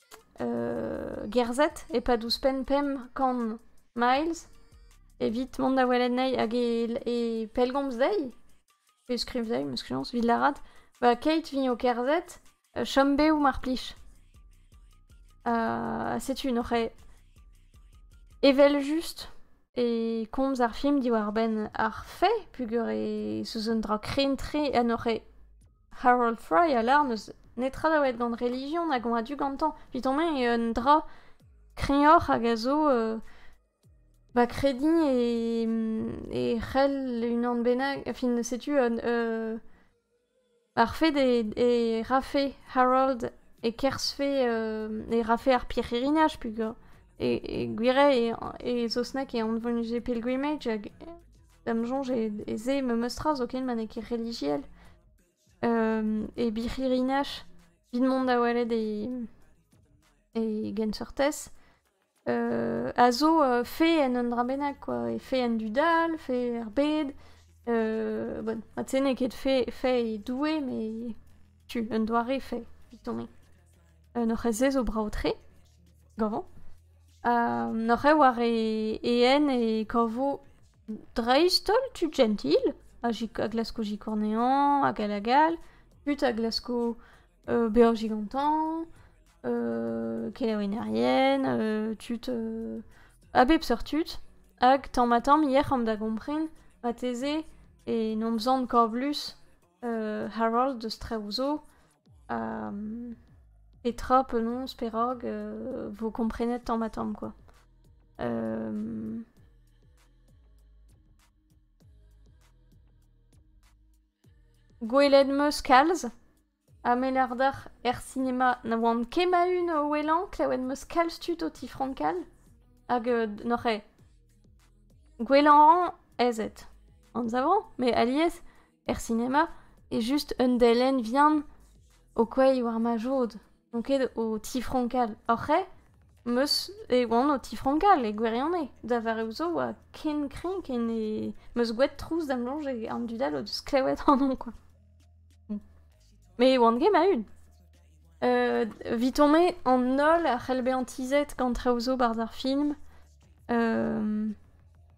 S1: gerzhet e-pad ouzhpenn pemp kant miles evit mont da welet anezhi hag e pellgomz dezhi pe skriv dezhi, m'eus kriañs, evit lâret ba keit vint o kerzhet chom bev mar plij. Ha setu un oc'h evel-just e komz ar film diwar-benn ar fae peogwir e, South un dra krenn-tre en oc'h Harold Fry a lâr n'eus netra da welet gant relijion hag on a-du gantañ. Evit on eo un dra kreñvoc'h hag a zo euh, ba krediñ e, e c'hell unan bennak... Enfin, setu un... euh, ar fait e, e rafe Harold e kerzhfe euh, e rafe ar pirc'hirinaj pugur. E, e gwir eo e, e Saosneg e anvonje pilgrimage hag D'am soñj e se memes tra zoken ma n'eo ket relijiel. e birc'hirinach, evit mont da welet e e genseurtez, a zo fae en un dra bennak quoi, e fae en dudal, fae er bed. bon, mat-se n'eo ket fae fae e Doue, met tu, un doare fae, evit tomp-me. An oc'hez-se zo brav-tre, gavañ. An oc'h eo war e een e kavo dreist-holl tud jentil, a glasko sikour anezhañ hag all hag all, tud a glasko bezañ gigantañ, kelaouennerien, tud a bep seurt tud. Hag tamm-ha-tamm yec'h omp da gompren marteze e n'omp sant Corvus Harold eus traoù zo. Petra penaos, perak vo komprenet tamm-ha-tamm kwa. Gwelet 'm eus kalz ha me lar deoc'h er sinema na oan ket ma-un o ouelañ, klevet 'm eus kalz tud o tifrankal hag n'oc'h eo. Gwellañ 'rañ aes eo, anzav 'rañ, met alies er sinema eo just un delenn vihan o kouezhiñ war ma jod. N'on ket o tifronkal. Oc'h eo am eus e oan o tifronkal e gwirionez. Da vareoù zo oa ken kreñv ken e am eus gwraet trouz da'm soñj e an dud all o deus klewet ac'hanon kwa. Met e oan ket ma-un. Evitomp-me an holl a c'hell bezañ tizhet gant traoù zo 'barzh ar film.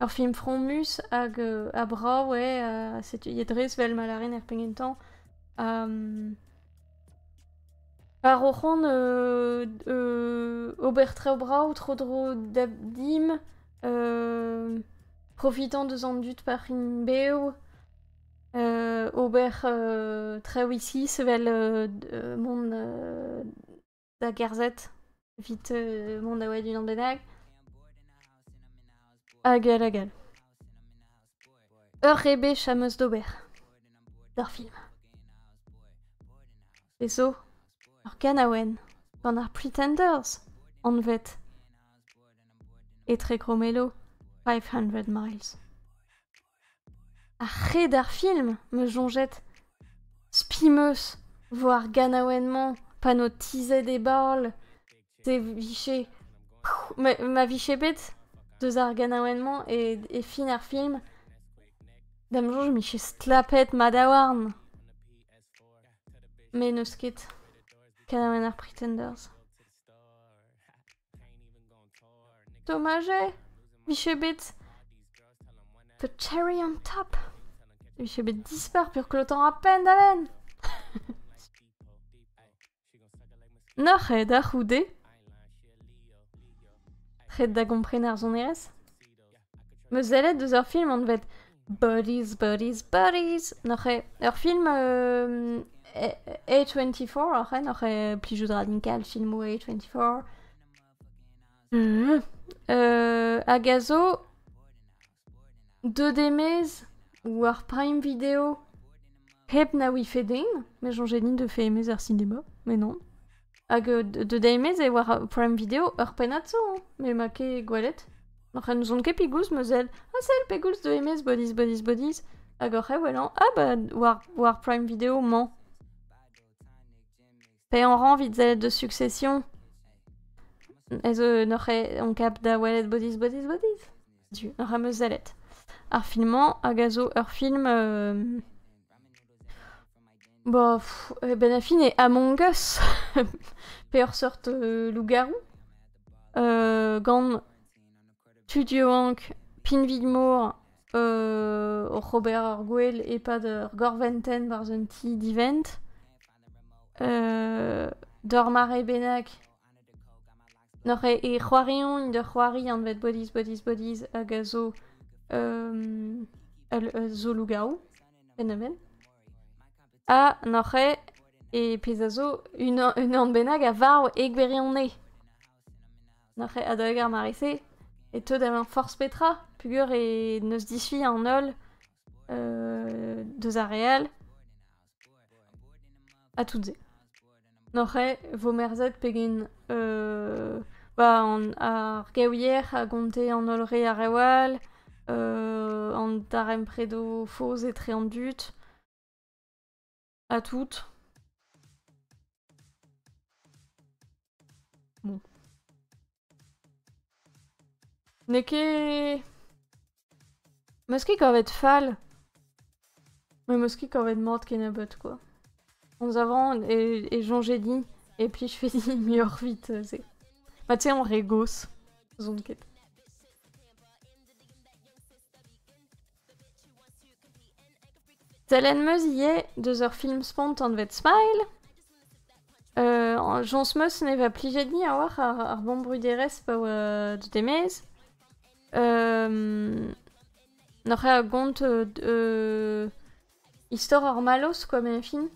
S1: Ur film fromus hag ha brav eo ha setu e dres vel ma lârin er penn gentañ. War o c'hont ober traoù brav tro-dro dimp, profitañ deus an dud pa c'int bev, ober traoù isis vel mont da gerzhet evit mont da welet unan bennak. Hag hag hag. Ur rebech am eus d'ober d'ur film. E zo ur ganaouenn gant ar Pretenders anvet Etre Grommello 500 Miles. Ar c'hred ar film, ma soñjed ! Spi 'm eus 'vo ar ganaouenn-mañ pa n'ho tizhet e baol. Se 'vije ma vije bet deus ar ganaouenn-mañ e e fin ar film, da 'm soñj 'mije stlapet madaouarn. Met n'eus ket. Kanaouenn ar Pretenders. Domajez 'vije bet The Cherry on Top. E vije bet dispar peur klotañ a-penn da benn! N'oc'h aet da c'houde? Ret da gompren ar sonerezh? Meuzellet eus ur film anvet Buddies, Buddies, Buddies neuze ur film A24 oc'h oc'h plijout ra din kal filmoù A24 Mhm. Euh, hag a zo deux demez war Prime Video hep na ouife den, mais soñjet din de fait aimé ar cinéma, mais non. Hag euh, de, de deiz-maez e war uh, Prime Video ur pennad zo, me ma ket gwelet. Oc'h en ouzon ket pegoulz ma sell. Ha sell pegoulz de emez bodiz, bodiz, bodiz. Hag oc'h e welan, ah bah, war, war Prime Video mañ. Pe on ran vit sellet de succession. Ez euh, n'oc'h e- on kap da welet bodiz, bodiz, bodiz. Du, n'oc'h am eus sellet. Ar film-mañ hag a zo ur film euh, Ba, e-benn ar fin eo Among Us, peoc'h seurt lougaroù, gant tud yaouank pinvidmor oc'h ober ar gwel e-pad ur gorventenn barzh un ti divent, d'ur mare bennak Neuze e c'hoariont da c'hoari anvet Bodies, Bodies, Bodies hag a zo um, ul ul zo lougarou penn-a-benn. Ha neuze e pezh a zo unan unan bennak a varv e gwirionez. Neuze adalek ar mare-se e teu da vezañ forzh petra peogwir e n'eus disfi an holl uh, deus ar re all. Ha tout se. N'oc'h ket 'vo merzet pegen bah ar gaouier a gonte an holl re a rev all, an darempredoù faos etre an dud ha tout. Bon. N'eo ket... 'Meus ket kavet fall. Me 'meus ket kavet mat kennebeut kwa. Komz a ran e e soñjais din et puis je fais dit muioc'h vit euh, se. Ma tu sais en re gozh, 'zon ket. Telenn 'm eus ivez deus ur film spontanvet Smile. Jañs 'm eus ne va plijet dit a-walc'h ar ar vamm-bruderezh pa oa deut e-maez. N'oc'h ket a gont Istor ar mallozh, quoi min fin,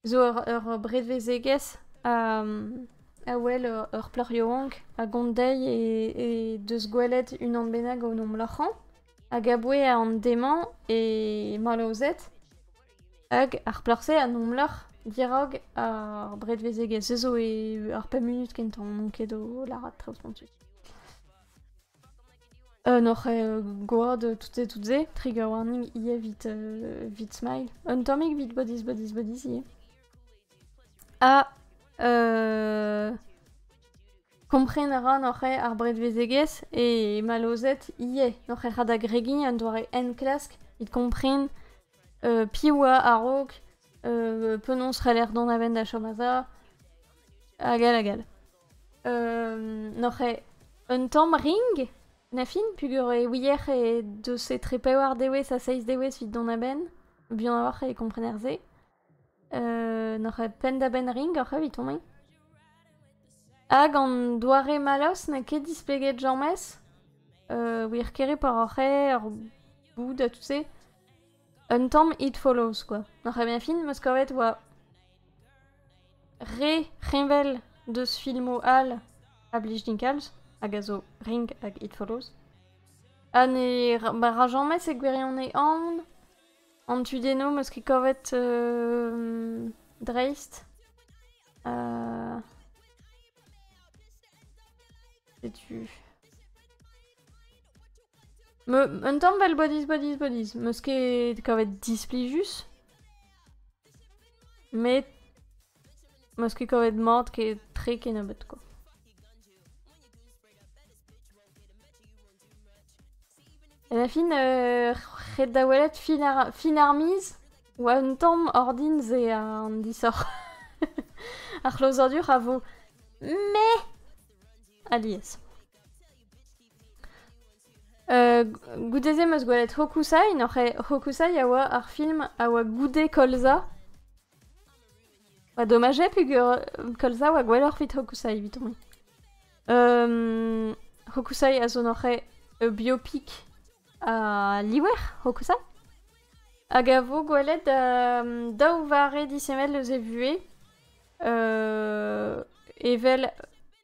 S1: zo ur bredevezegezh a wel ur plac'h yaouank a gont dezhi he deus gwelet unan bennak en hom loc'hañ hag aboue an dez-mañ e mallozhed hag ar plac'h-se a 'n hom lorc'h dirak ar bredevezegezh. Se zo eo ar pemp munut kentañ, n'on ket o lâret traoù spontus. Gant hoc'h gwad tout-se, tout-se, trigger warning ivez evit, evit Smile. Un tammig evit Bodies, Bodies, Bodies ivez. Ha euh, kompren a ra noc'h ar bredvezegezh e malozet ivez noc'h rad agregiñ un doare enklask evit kompren euh, piv oa a-raok, euh, penaos c'heller dont a-benn da chom a-za, hag all hag all. N'oc'h ket un tamm ring, na fin, peogwir e ouiec'h e deus etre pevar dewezh ha seizh dewezh evit dont a-benn. Buan a-walc'h e komprener se. N'oc'h ket penn da benn ring oc'h evit tont-mañ. Hag an doare mallozh n'eo ket displeget james. Wir kere poa oc'h eo, ur boud ha tout se. Un tamm It Follows, quoi. Ar première film 'm eus kavet oa re reñvel deus filmoù all a blij din kalz, hag a zo Ring hag It Follows. Ha ne ra- ma ra james e gwirionez anv. An tudennoù 'm eus ket kavet euh, dreist. Euh, Setu... Un tamm 'vel Bodis Bodis Bodis, 'meus ket kavet displijus, met 'meus ket kavet mat ket tre kennebeut quoi. Ha da fin ret da welet fin ar miz 'oa un tamm ordin se an disoc'h. Ar c'hlozadur a vo mais alies. Goude-se 'm eus gwelet Hokusai, nac'he Hokusai a oa ar film a oa goude Kolza. Ba domaj eo peger Kolza oa gwelloc'h evit Hokusai evitomp-me. Hokusai a zo nac'he ur biopik a liver, Hokusai. Hag a vo gwelet daou vare disheñvel eus e vuhez evel...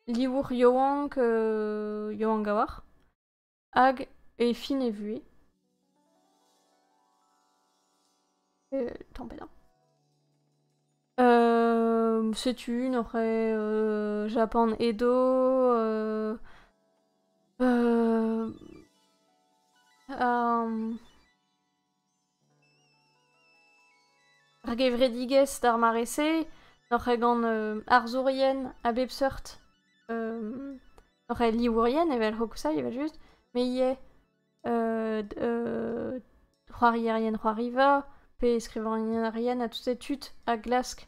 S1: livour yaouank yaouank a-walc'h hag e fin e vuhez. tamm pedañ. setu une on c'hrae Japan Edo. Ar gevredigezh d'ar mare-se n'oc'h ket gant arzourien a bep seurt. n'oc'h ket livourien evel hokusai evel-just, me ivez c'hoarierien c'hoariva pe skrivagnerien ha tout e tud a glask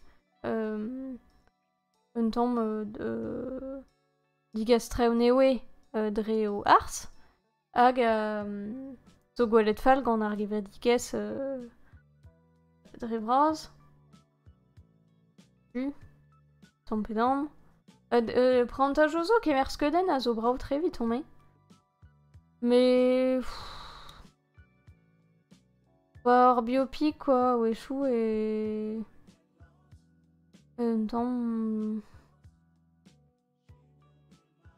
S1: un tamm digastr eo dre o arz. Hag euh, zo gwelet fall gant ar gevredigezh euh, dre vras. Tu, ton pedan. Euh, prantaj zo kemer skeudenn a zo brao tre vit on me. Mais... Quoi, ar biopic quoi, wechou et... Un temps...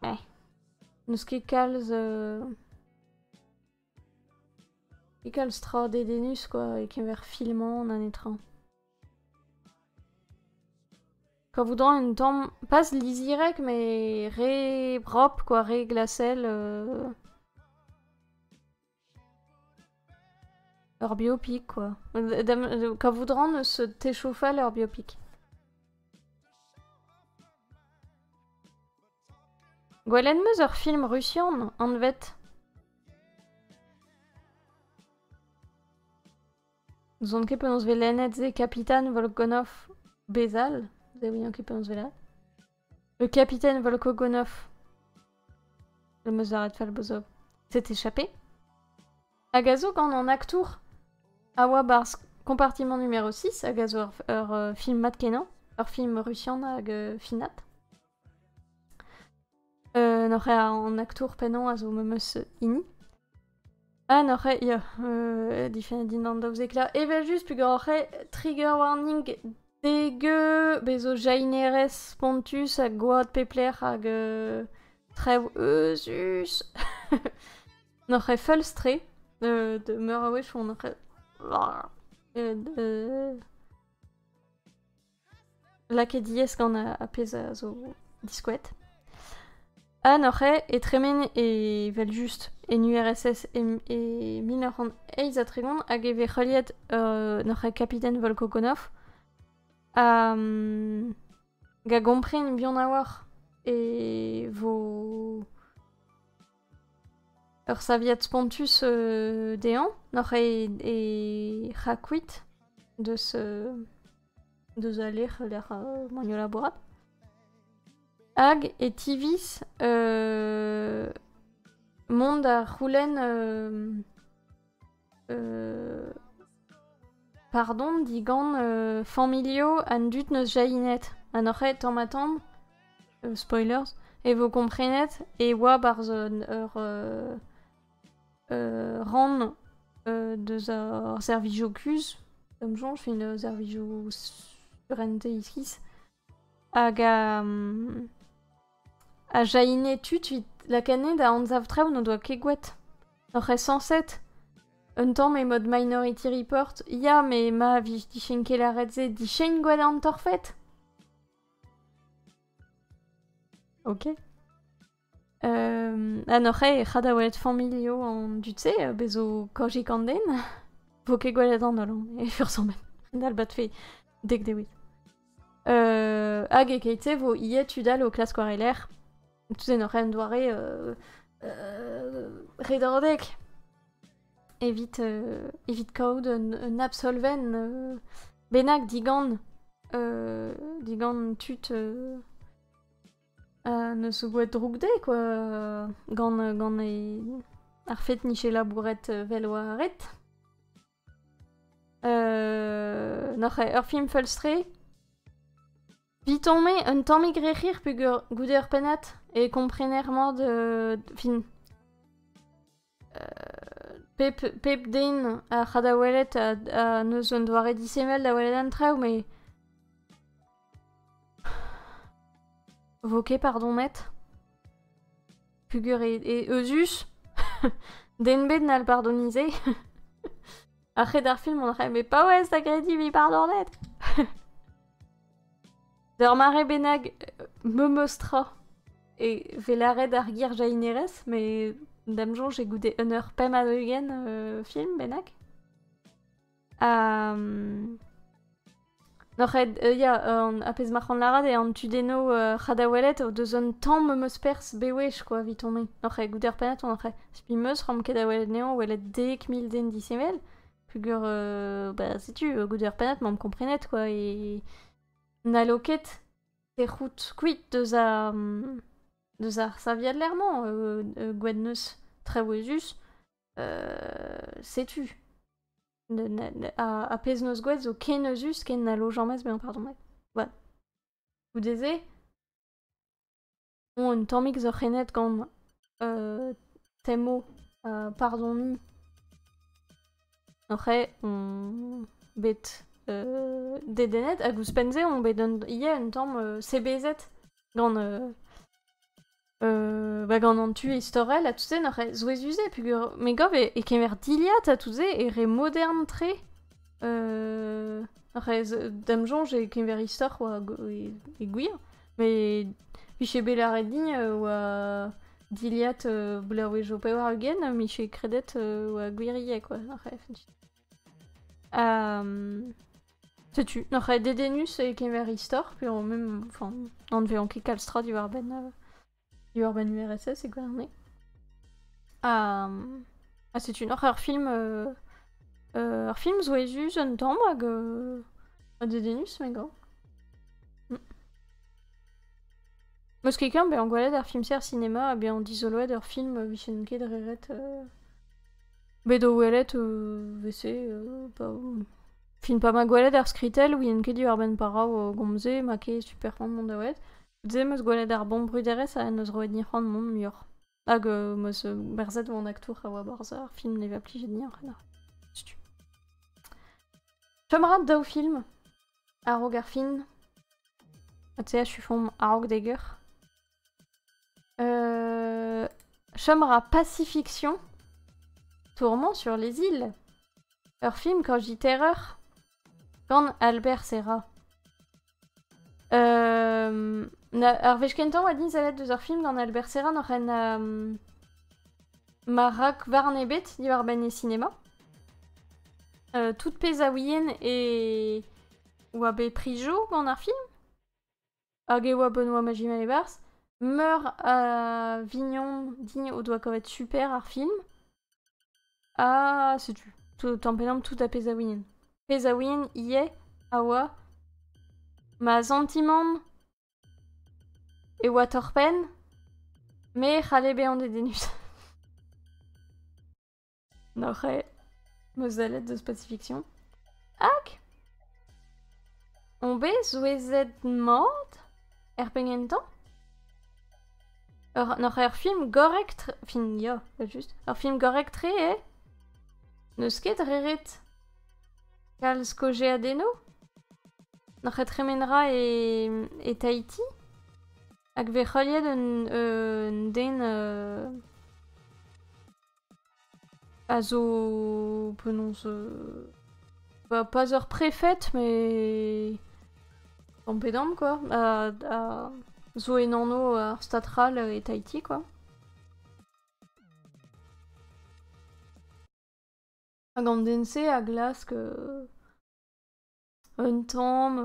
S1: Eh, n'eus ket kalz ket kalz tra dedennus quoi e-keñver filmañ na netra. Kavout a ra un tamm, pas lizirek mais re brop quoi, re glasel. Ur biopic, quoi. Kavout ran eus techofal ur biopic. Gwelet 'm eus ur film rusian, anvet Zon ket penaos vez lennet se Kapitan Volkonov bezal, se ouian ket penaos vez lennet. Le capitaine Volkogonov. Le Mozaret Falbozov s'est échappé. Agazo gant an aktour a oa barzh compartiment numéro 6 agazo ur, ur euh, film mat kenañ, ur film rusian hag euh, finat. Euh, N'oc'h an aktour pennañ a zo memes hini. Ah n'oc'h ket, ya, euh, difennet din an daouzekla. Evel-just, pegwir oc'h ket, trigger warning degeu bez zo jainerez spontus ha gwad pep lec'h hag euh, trev euzus. n'oc'h ket feulz-tre euh, de meur a wech on oc'h ket... euh, euh, lakaet diaes gant ar pezh a zo diskouet. Ha noc'he e tremen evel-just en URSS e mil nav c'hant eizh ha tregont hag e vez heuliet uh, noc'he kapiten Volkogonov ha um, a gompren bihan a-walc'h e vo Ur saviad spontus dezhañ n'oc'h ket e c'hakuit deus deus al lec'h lec'h m'on o labourat. Hag e tiviz mont da c'houlenn Pardon digant familho an dud neus jahinet ha n'oc'h ket tamm-ha-tamm spoilers e vo komprenet e oa 'barzh ur rann deus ar servijo kuzh, da'm soñj fin servijo surentez iskis. Hag a jailhine tud 'vit lakaat da anzav traoù n'o doa ket gwraet. Oc'h aesañset un tamm e-mod Minority Report ya met ma vije dichein ket lâret se dichein gwalarn torfed? Ok. En hor c'hae c'ha da welet familho an dud-se, bezo Kojik an den. Vo ket gwelet an holl, e fursomet. Dalbat fe, dek dewit. Euh, hag e keit-se vo ie tudal o klask war e lerc'h. Tout en hor en doare euh, euh, redordek. Evit, euh, evit kaout un, un absolven euh, bennak digant, euh, digant tud euh, N'eus oa droug dezhe kwa gant gant e ar fed 'nije labouret vel oa ret. Noc'h eo ur film feulstre. Vit on me un tammig re c'hir peogwir goude ur pennad e komprener mat fin. pep, pep den a ra da welet ha n'eus un doare disheñvel da welet an traoù met... vo ket pardon met pugur e, euzhus den bet n'hall pardonize ar c'hed ar film on c'hai bet paouez da grediñ vi pardonet D'ur mare bennak, memes tra e vez lâret ar girjahinerez, met d'am soñj e goude un eur pemp ha ugent euh, film bennak. Ha... Noc'h ed, euh, ya, an a pezh ma c'han lârat eo an tudenno euh, c'hadawelet o deus un tamm memes perzh bewech quoi evit on Noc'h ed goude ar pennad on oc'h spi meus ran ket da welet neon welet dek mil den disheñvel. Pugur, euh, bah, setu, goude ar pennad, m'am komprenet quoi e... N'hallo ket te c'hoût kuit deus ar deus ar saviad ler-mañ, gwennneuz traouezus. setu. ar pezh 'neus gwelet zo ken euzhus ken n'hallo james bezañ pardon. Goude-se Bon, un tammig zo renet gant euh, Temo ha pardoniñ. Oc'h on bet euh, dedennet hag ouzhpenn-se on bet un, ivez un tamm euh, sebezet gant euh, euh, bah, gant an tu istorel ha tout se n'oc'h souezhus-se peogwir me gav e, e kemer dilhad ha tout se e re modern-tre. Euh, rez d'am soñj e keñver istor oa e, e gwir, met vije bet lâret din euh, oa dilhad euh, bloavezh o pevar-ugent mije kredet euh, oa gwiriek quoi Um, setu, noc'h dedennus e keñver istor, pe même, enfin, on ne vezañ ket kalz tra diwar-benn euh, Urban URSS e gouarneg. Ha, ha setu noc'h ur film... euh, euh, ur film zo ezus un tamm hag euh, ha dedennus me gav. Mm. Meus ket bezañ gwelet ar film-ser sinema ha bezañ dizoloet ur film euh, vifen ket reret... euh, bet o welet euh, vese euh, pa... Fin pa ma gwelet ar skritell ouien ket Urban Parao euh, gomze ma ket super c'hoant mont da welet. Tu 'm eus gwelet ar bombruderezh en deus roet din c'hoant mont muioc'h. Hag euh, 'm eus euh, berzet oan aktour a oa barzh ar film ne va plijet dioc'h na. Setu. Chom a ra daou film. A-raok ar fin. Ha tu sais, je suis font a-raok d'Egger. Euh... Chom a ra Pacifiction. Tourment sur les îles. Ur film quand je dis terreur, Gant Albert Serra. Euh, ar wech kentañ oa din sellet deus ar film gant Albert Serra noc'hen euh, ma rak war an ebet diwar-benn e sinema. Euh, tout pezh a ouien e oa bet prijo gant ar film. Hag e oa Benoît Magimel e-barzh. Meur a vignon digne o doa kavet super ar film. Ha setu, tout, tamm pe namm tout a pezh a winen. Pezh a win ivez a oa ma santimant e oa torr-penn, me 'c'halle bezañ dedennus. N'oc'h aet ma sellet deus Pacifiction Hac on bet souezhet mat er penn gentañ ur n'oc'h ur film gorrek-tre fin ya evel-just ur film gorrek-tre eo n'eus ket re ret kalz kaozeadennoù n'oc'h ket tremen ra e e Tahiti hag vez heuliet un un den euh A zo penaos bah pas ur prefed mais tamm pe damm quoi a a zo en anv ar stad c'hall e Tahiti quoi. Hag an den-se a glask Un tamm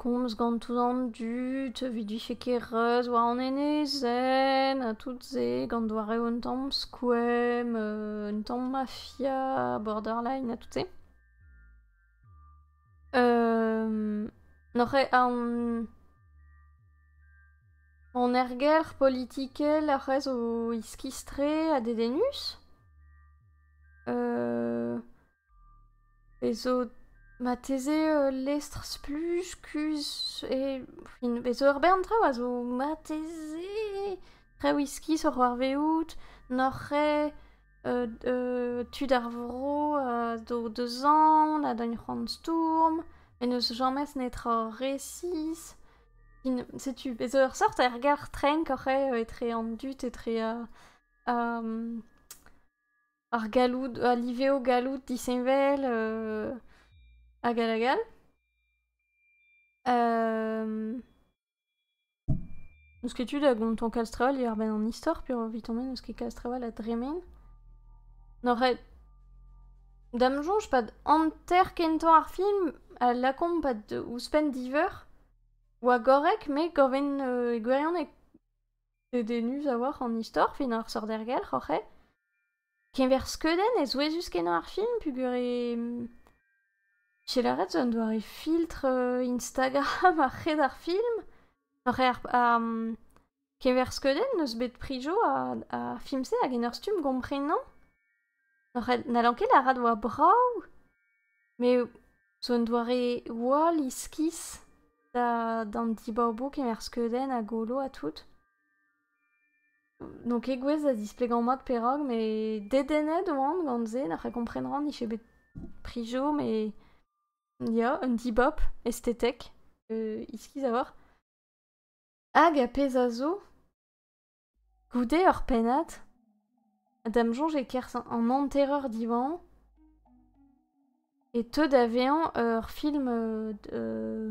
S1: komz gantoù an dud evit vije ket reuz war an enezenn ha tout se gant doareoù un tamm skoemp, un tamm mafia, borderline ha tout se. N'oc'h ket an erger politikel ac'h eus o iskis-tre ha dedennus. Bez zo marteze ul lestr-spluj kuzh e fin bez zo ur bern traoù a zo marteze traoù iskis oc'h c'hoarvezout n'oc'h ket tud ar vro a zo deus aon a dagn c'hoant stourm met n'eus james netra resis fin setu bez zo ur seurt ergelc'h trenk oc'h eo etre an dud etre ar ar galloud, al liveo galloud disheñvel hag all hag all. N'eus ket tu da gontañ Kalstreval diwar-benn an istor peogwir evit on n'eus ket Kalstreval a dremen. N'oc'h Da'm soñj pad hanter kentañ ar film a lakaomp pad ouzhpenn diveur oa gorrek met gorvenn e gwirionez dedennus a-walc'h an istor fin ar sorder-gelc'h oc'h eo keñver skeudenn ezouezus-kenañ ar film peogwir e j'ai lâret zo un doare filtr euh, Instagram a-hed ar film oc'h eo ar, keñver skeudenn n'eus bet prijo a, a film-se hag en ur stumm gomprenañ Oc'h n'hallan ket lâret oa brav, met zo un doare hoal iskis da d'an dibaboù kemer skeudenn ha golo ha tout. N'on ket gouest da displegañ mat perak, met dedennet oan gant se, n'oc'h komprenan, nije bet prijo, met ya, un dibab estetek iskis a-walc'h. Hag ar pezh a zo, Goude ur pennad, d'am soñj e-kerzh an hanterer diwañ, e teu da vezañ ur film euh, euh,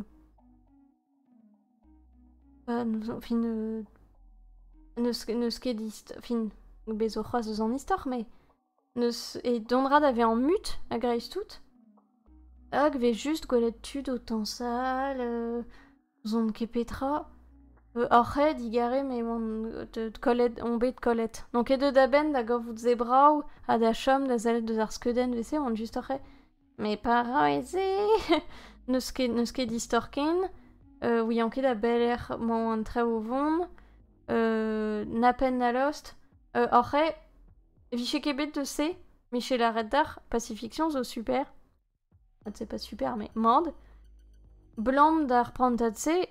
S1: fin euh, n'eus ket, fin bez zo c'hoazh eus an istor, mais N'eus e dondra da vezañ mut a-greiz-tout hag 'vez just gwelet tud o tañsal, euh, n'ouzon ket petra. Hoc'h ae digare me 'oan deuet kollet, on bet kollet. N'on ket deuet a-benn da gavout se brav ha da chom da sellet deus ar skeudenn 'vez-se 'oan just oc'h ae. Mes pareil-se, n'eus ket, n'eus ket istor ken. Euh, ouian ket a belec'h emañ an traoù o vont. Euh, na penn na lost. Euh, oc'h eo, vije ket bet deus se, Michel Arretar, Pacifiction zo super. Ah, c'est pas super, mais merde. Blan d'ar prantad-se,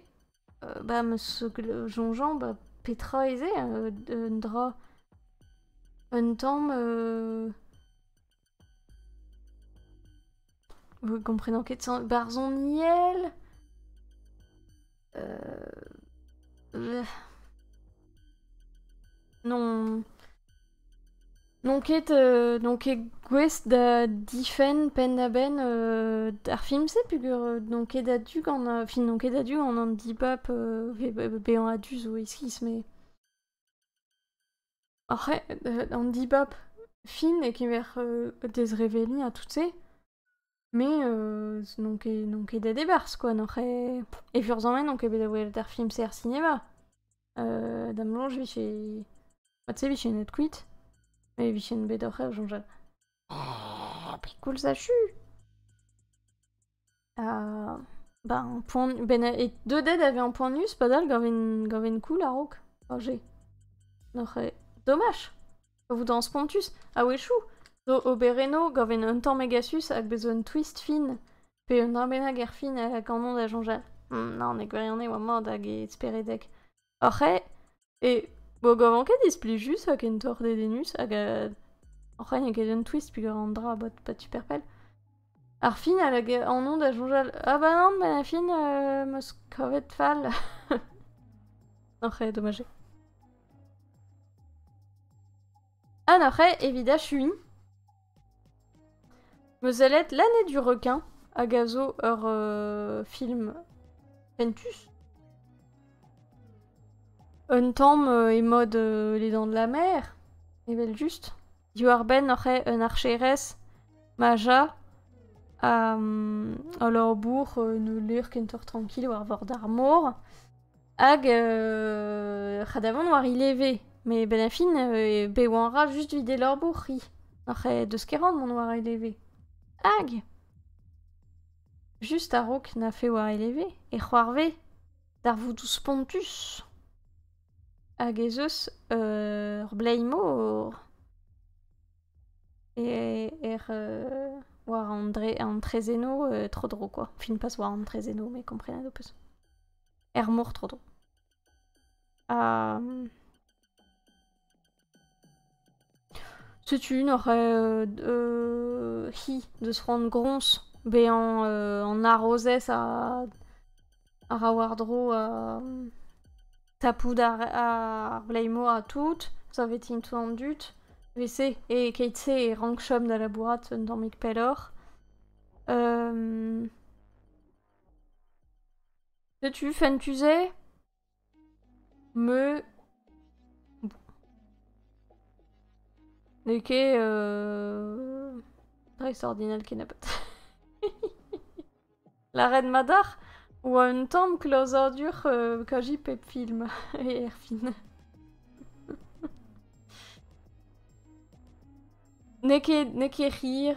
S1: euh, bah, me songeant, bah, petra ez eo euh, un dra un tamm euh, Vous comprenez quels sont barzoniel euh... Non. Non ket, euh, non ket gouest da difenn penn-da-benn euh, ar film-se, pugur euh, non ket a-du gant... euh, fin, non ket a-du gant an dibab euh, ve- bezañ a-du zo e-skis, mais... Ac'h eo an dibab fin e-keñver dezreveliñ ha tout-se, me n'on ket n'on ket deut e-barzh kwa, n'oc'h ket e furzhañ-me n'on ket bet da welet ar film-se er sinema. Da'm soñj 'vije, mod-se 'vijen deut kuit, met 'vijen bet oc'h eo soñjal. Ah, pekoulz achu! Ha... Ba, poan... Ben, e deudet e vez ampanius padal gaven gaven koul a-raok, ar jez. N'oc'h ket... Domaj! O vout an spontus. A-wechoù, zo oberennoù gaven un tamm megasus hag bez un twist fin, pe un dra bennak er fin a lakaomp da soñjal. Hmm, non, e gwirionez e oa mat hag e speredek. Oc'h eo e bogovan ket displijus ha kentoc'h dedennus hag euh oc'h eo n'eo ket un twist peogwir an dra a bot pas super pell. Ar final hag anv da soñjal ah bah non benn ar fin euh 'm eus kavet fall. Oc'h eo domaj eo. Ha n'oc'h eo evit achuiñ. Mezelet l'année du requin hag a zo ur film fentus. Un tamm e mod Les Dents de la Mer, evel-just. Diwar-benn oc'h eo un archerez, Maja, ha leur bourc'h ne lêr kentoc'h trankil war vord ar mor. Hag euh, c'hadavant war i leve. Mais ben a fin, euh, be oan ra just videl ur bourc'hi. Oc'h eh deus ket ran mont war e leve. Hag Just a-raok na fe war e leve, e c'hoarve darvoudou spontus. Hag ez eus euh, ur blei-mor e er euh, war an, dre, an trezeno euh, tro-dro, quoi. Fin pas war an trezeno, mais komprenet ho peus. er mor tro-dro. Ha... Setu une oc'h euh, hi deus c'hoant groñs bezañ euh, an arrozez a, a ra war-dro uh, tapout ar, ar bleimo ha tout, savetin tout an dud, vese, e keit-se e rankchom da labourat un tammig pelloc'h. Um, Setu fentus-se me n'eo ket dreistordinal kennebeut. Lâret mat ac'h oa un tamm klozadur kaji pep film erfin. N'eo ket n'eo ket hir.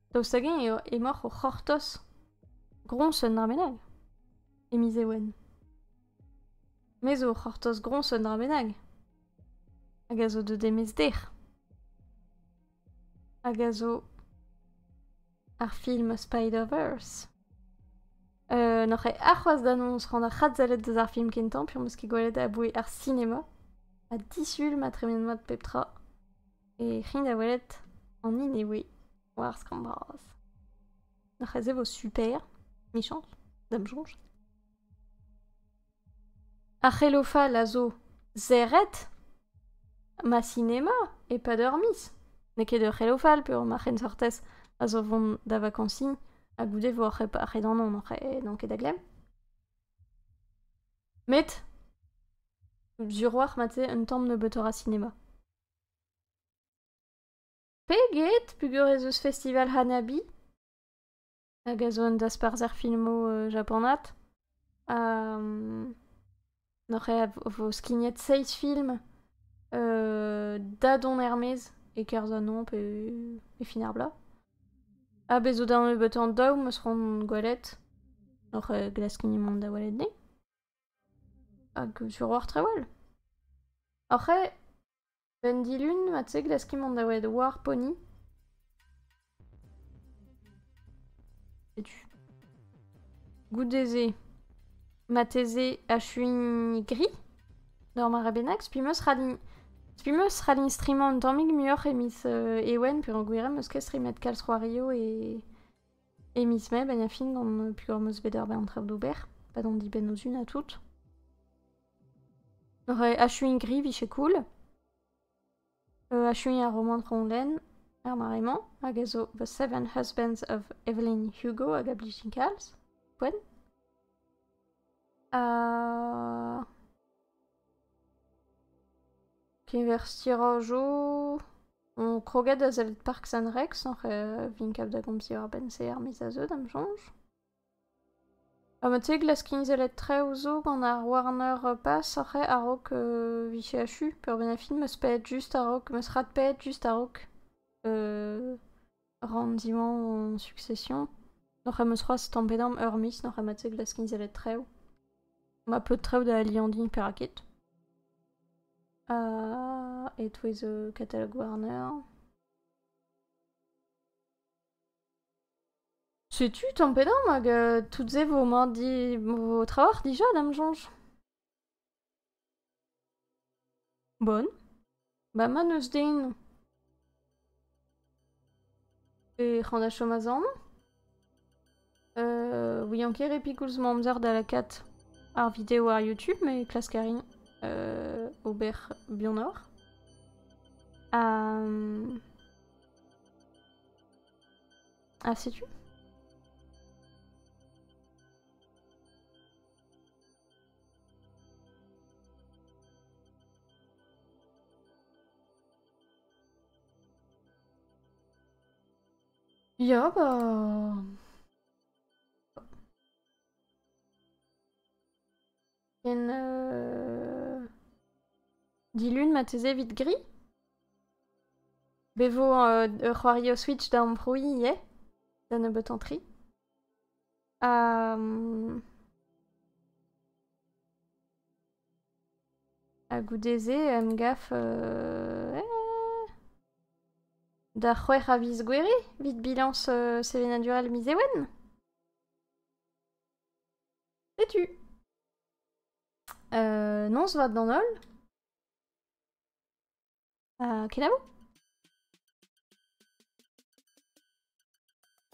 S1: Daoust hag-eñ eo emoc'h o c'hortoz groñs un dra bennak? E miz Ewen. Me zo o c'hortoz groñs un dra bennak. Hag a zo deut e-maez dec'h. Hag a zo ar film Spider-Verse. Euh, n'oc'h ket arc'hoazh d'annoñs rand ar c'hadsellet deus ar film kentañ penaos ket gwelet aboe ar sinema. Ha disul ma tremen mat pep tra. E c'hi da welet an hini eo war skramm bras. C'hezh vo super, michañs, da'm soñj. Ar c'helofal a zo serret ma sinema e-pad ur miz. N'eo ket ur c'helofal peogwir ma c'hensortez a zo vont da vakañsiñ ha goude vo ar c'hedanon n'on ket da glemm. Met sur 'walc'h mat-se un tamm nebeutoc'h a sinema. Peget peger ez eus festival Hanabi hag a zo un dasparzher filmoù japanat. N'oc'h ket a vo skignet seizh film da dont er-maez e-kerzh an hañv pe e fin ar bloaz. Ha bez' zo da nebeutañ daou 'm eus c'hoant gwelet. N'oc'h ket glask mont da welet 'ni? Hag sur oc'h trewel? Oc'h eo ? Eun dilun mat-se glaskit mont da welet war Pony. Setu. Goude-se, marteze achuin gri d'ur mare bennak. Spi 'm eus ral din... Spi 'm eus ral din strimañ un tammig muioc'h e miz Ewen peogwir em eus ket strimet kalz c'hoarioù e... E miz Mae bain a fin gant pugañ 'm eus bet ur bern traoù d'ober, pa d'an dibenn ozhun ha tout. achuiñ gri 'vije cool. achuiñ ar romant Ronlen er mare-mañ, hag a zo The Seven Husbands of Evelyn Hugo hag a blij din kalz, poent. Ha... Keñver stirañjoù on kroget da sellet Park San-Rex oc'h vin kaout da gomz diwar-benn se ar miz a zeu da'm soñj. Ha mod-se glaskint sellet traoù zo gant ar Warner Pass oc'h a-raok vicher achu peurvien ar film 'm eus paeet just a-raok, 'm eus radpaeet just a-raok rann-zimañ hon succession. Noc'h em eus c'hoazh stampet amp ur miz, noc'h ema te glask izelet traoù. Ma pleud traoù da aliandiñ perak ket. Ha e-touez katalog Warner. Setu tampet amp hag tout se vo mat di... vo trawalc'h dija d'am soñj. Bon, ba ma n'eus den. Ec'h an da chom azamañ. ouian ket re pikoulz ma amzer da lakaat ar video war YouTube met klask a rin ober buanoc'h. Ha... ha setu. Ya, bah... Ken... Euh... Dilun ma teze vit gris Bevo euh, ur c'hoari o Switch da amprouiñ ivez, da nebeut entri. Ha goude-se em gaf da c'hwec'h a viz gouere evit bilañs sevenadurel miz Ewen. Setu. noz vat d'an holl. Ha kenavo.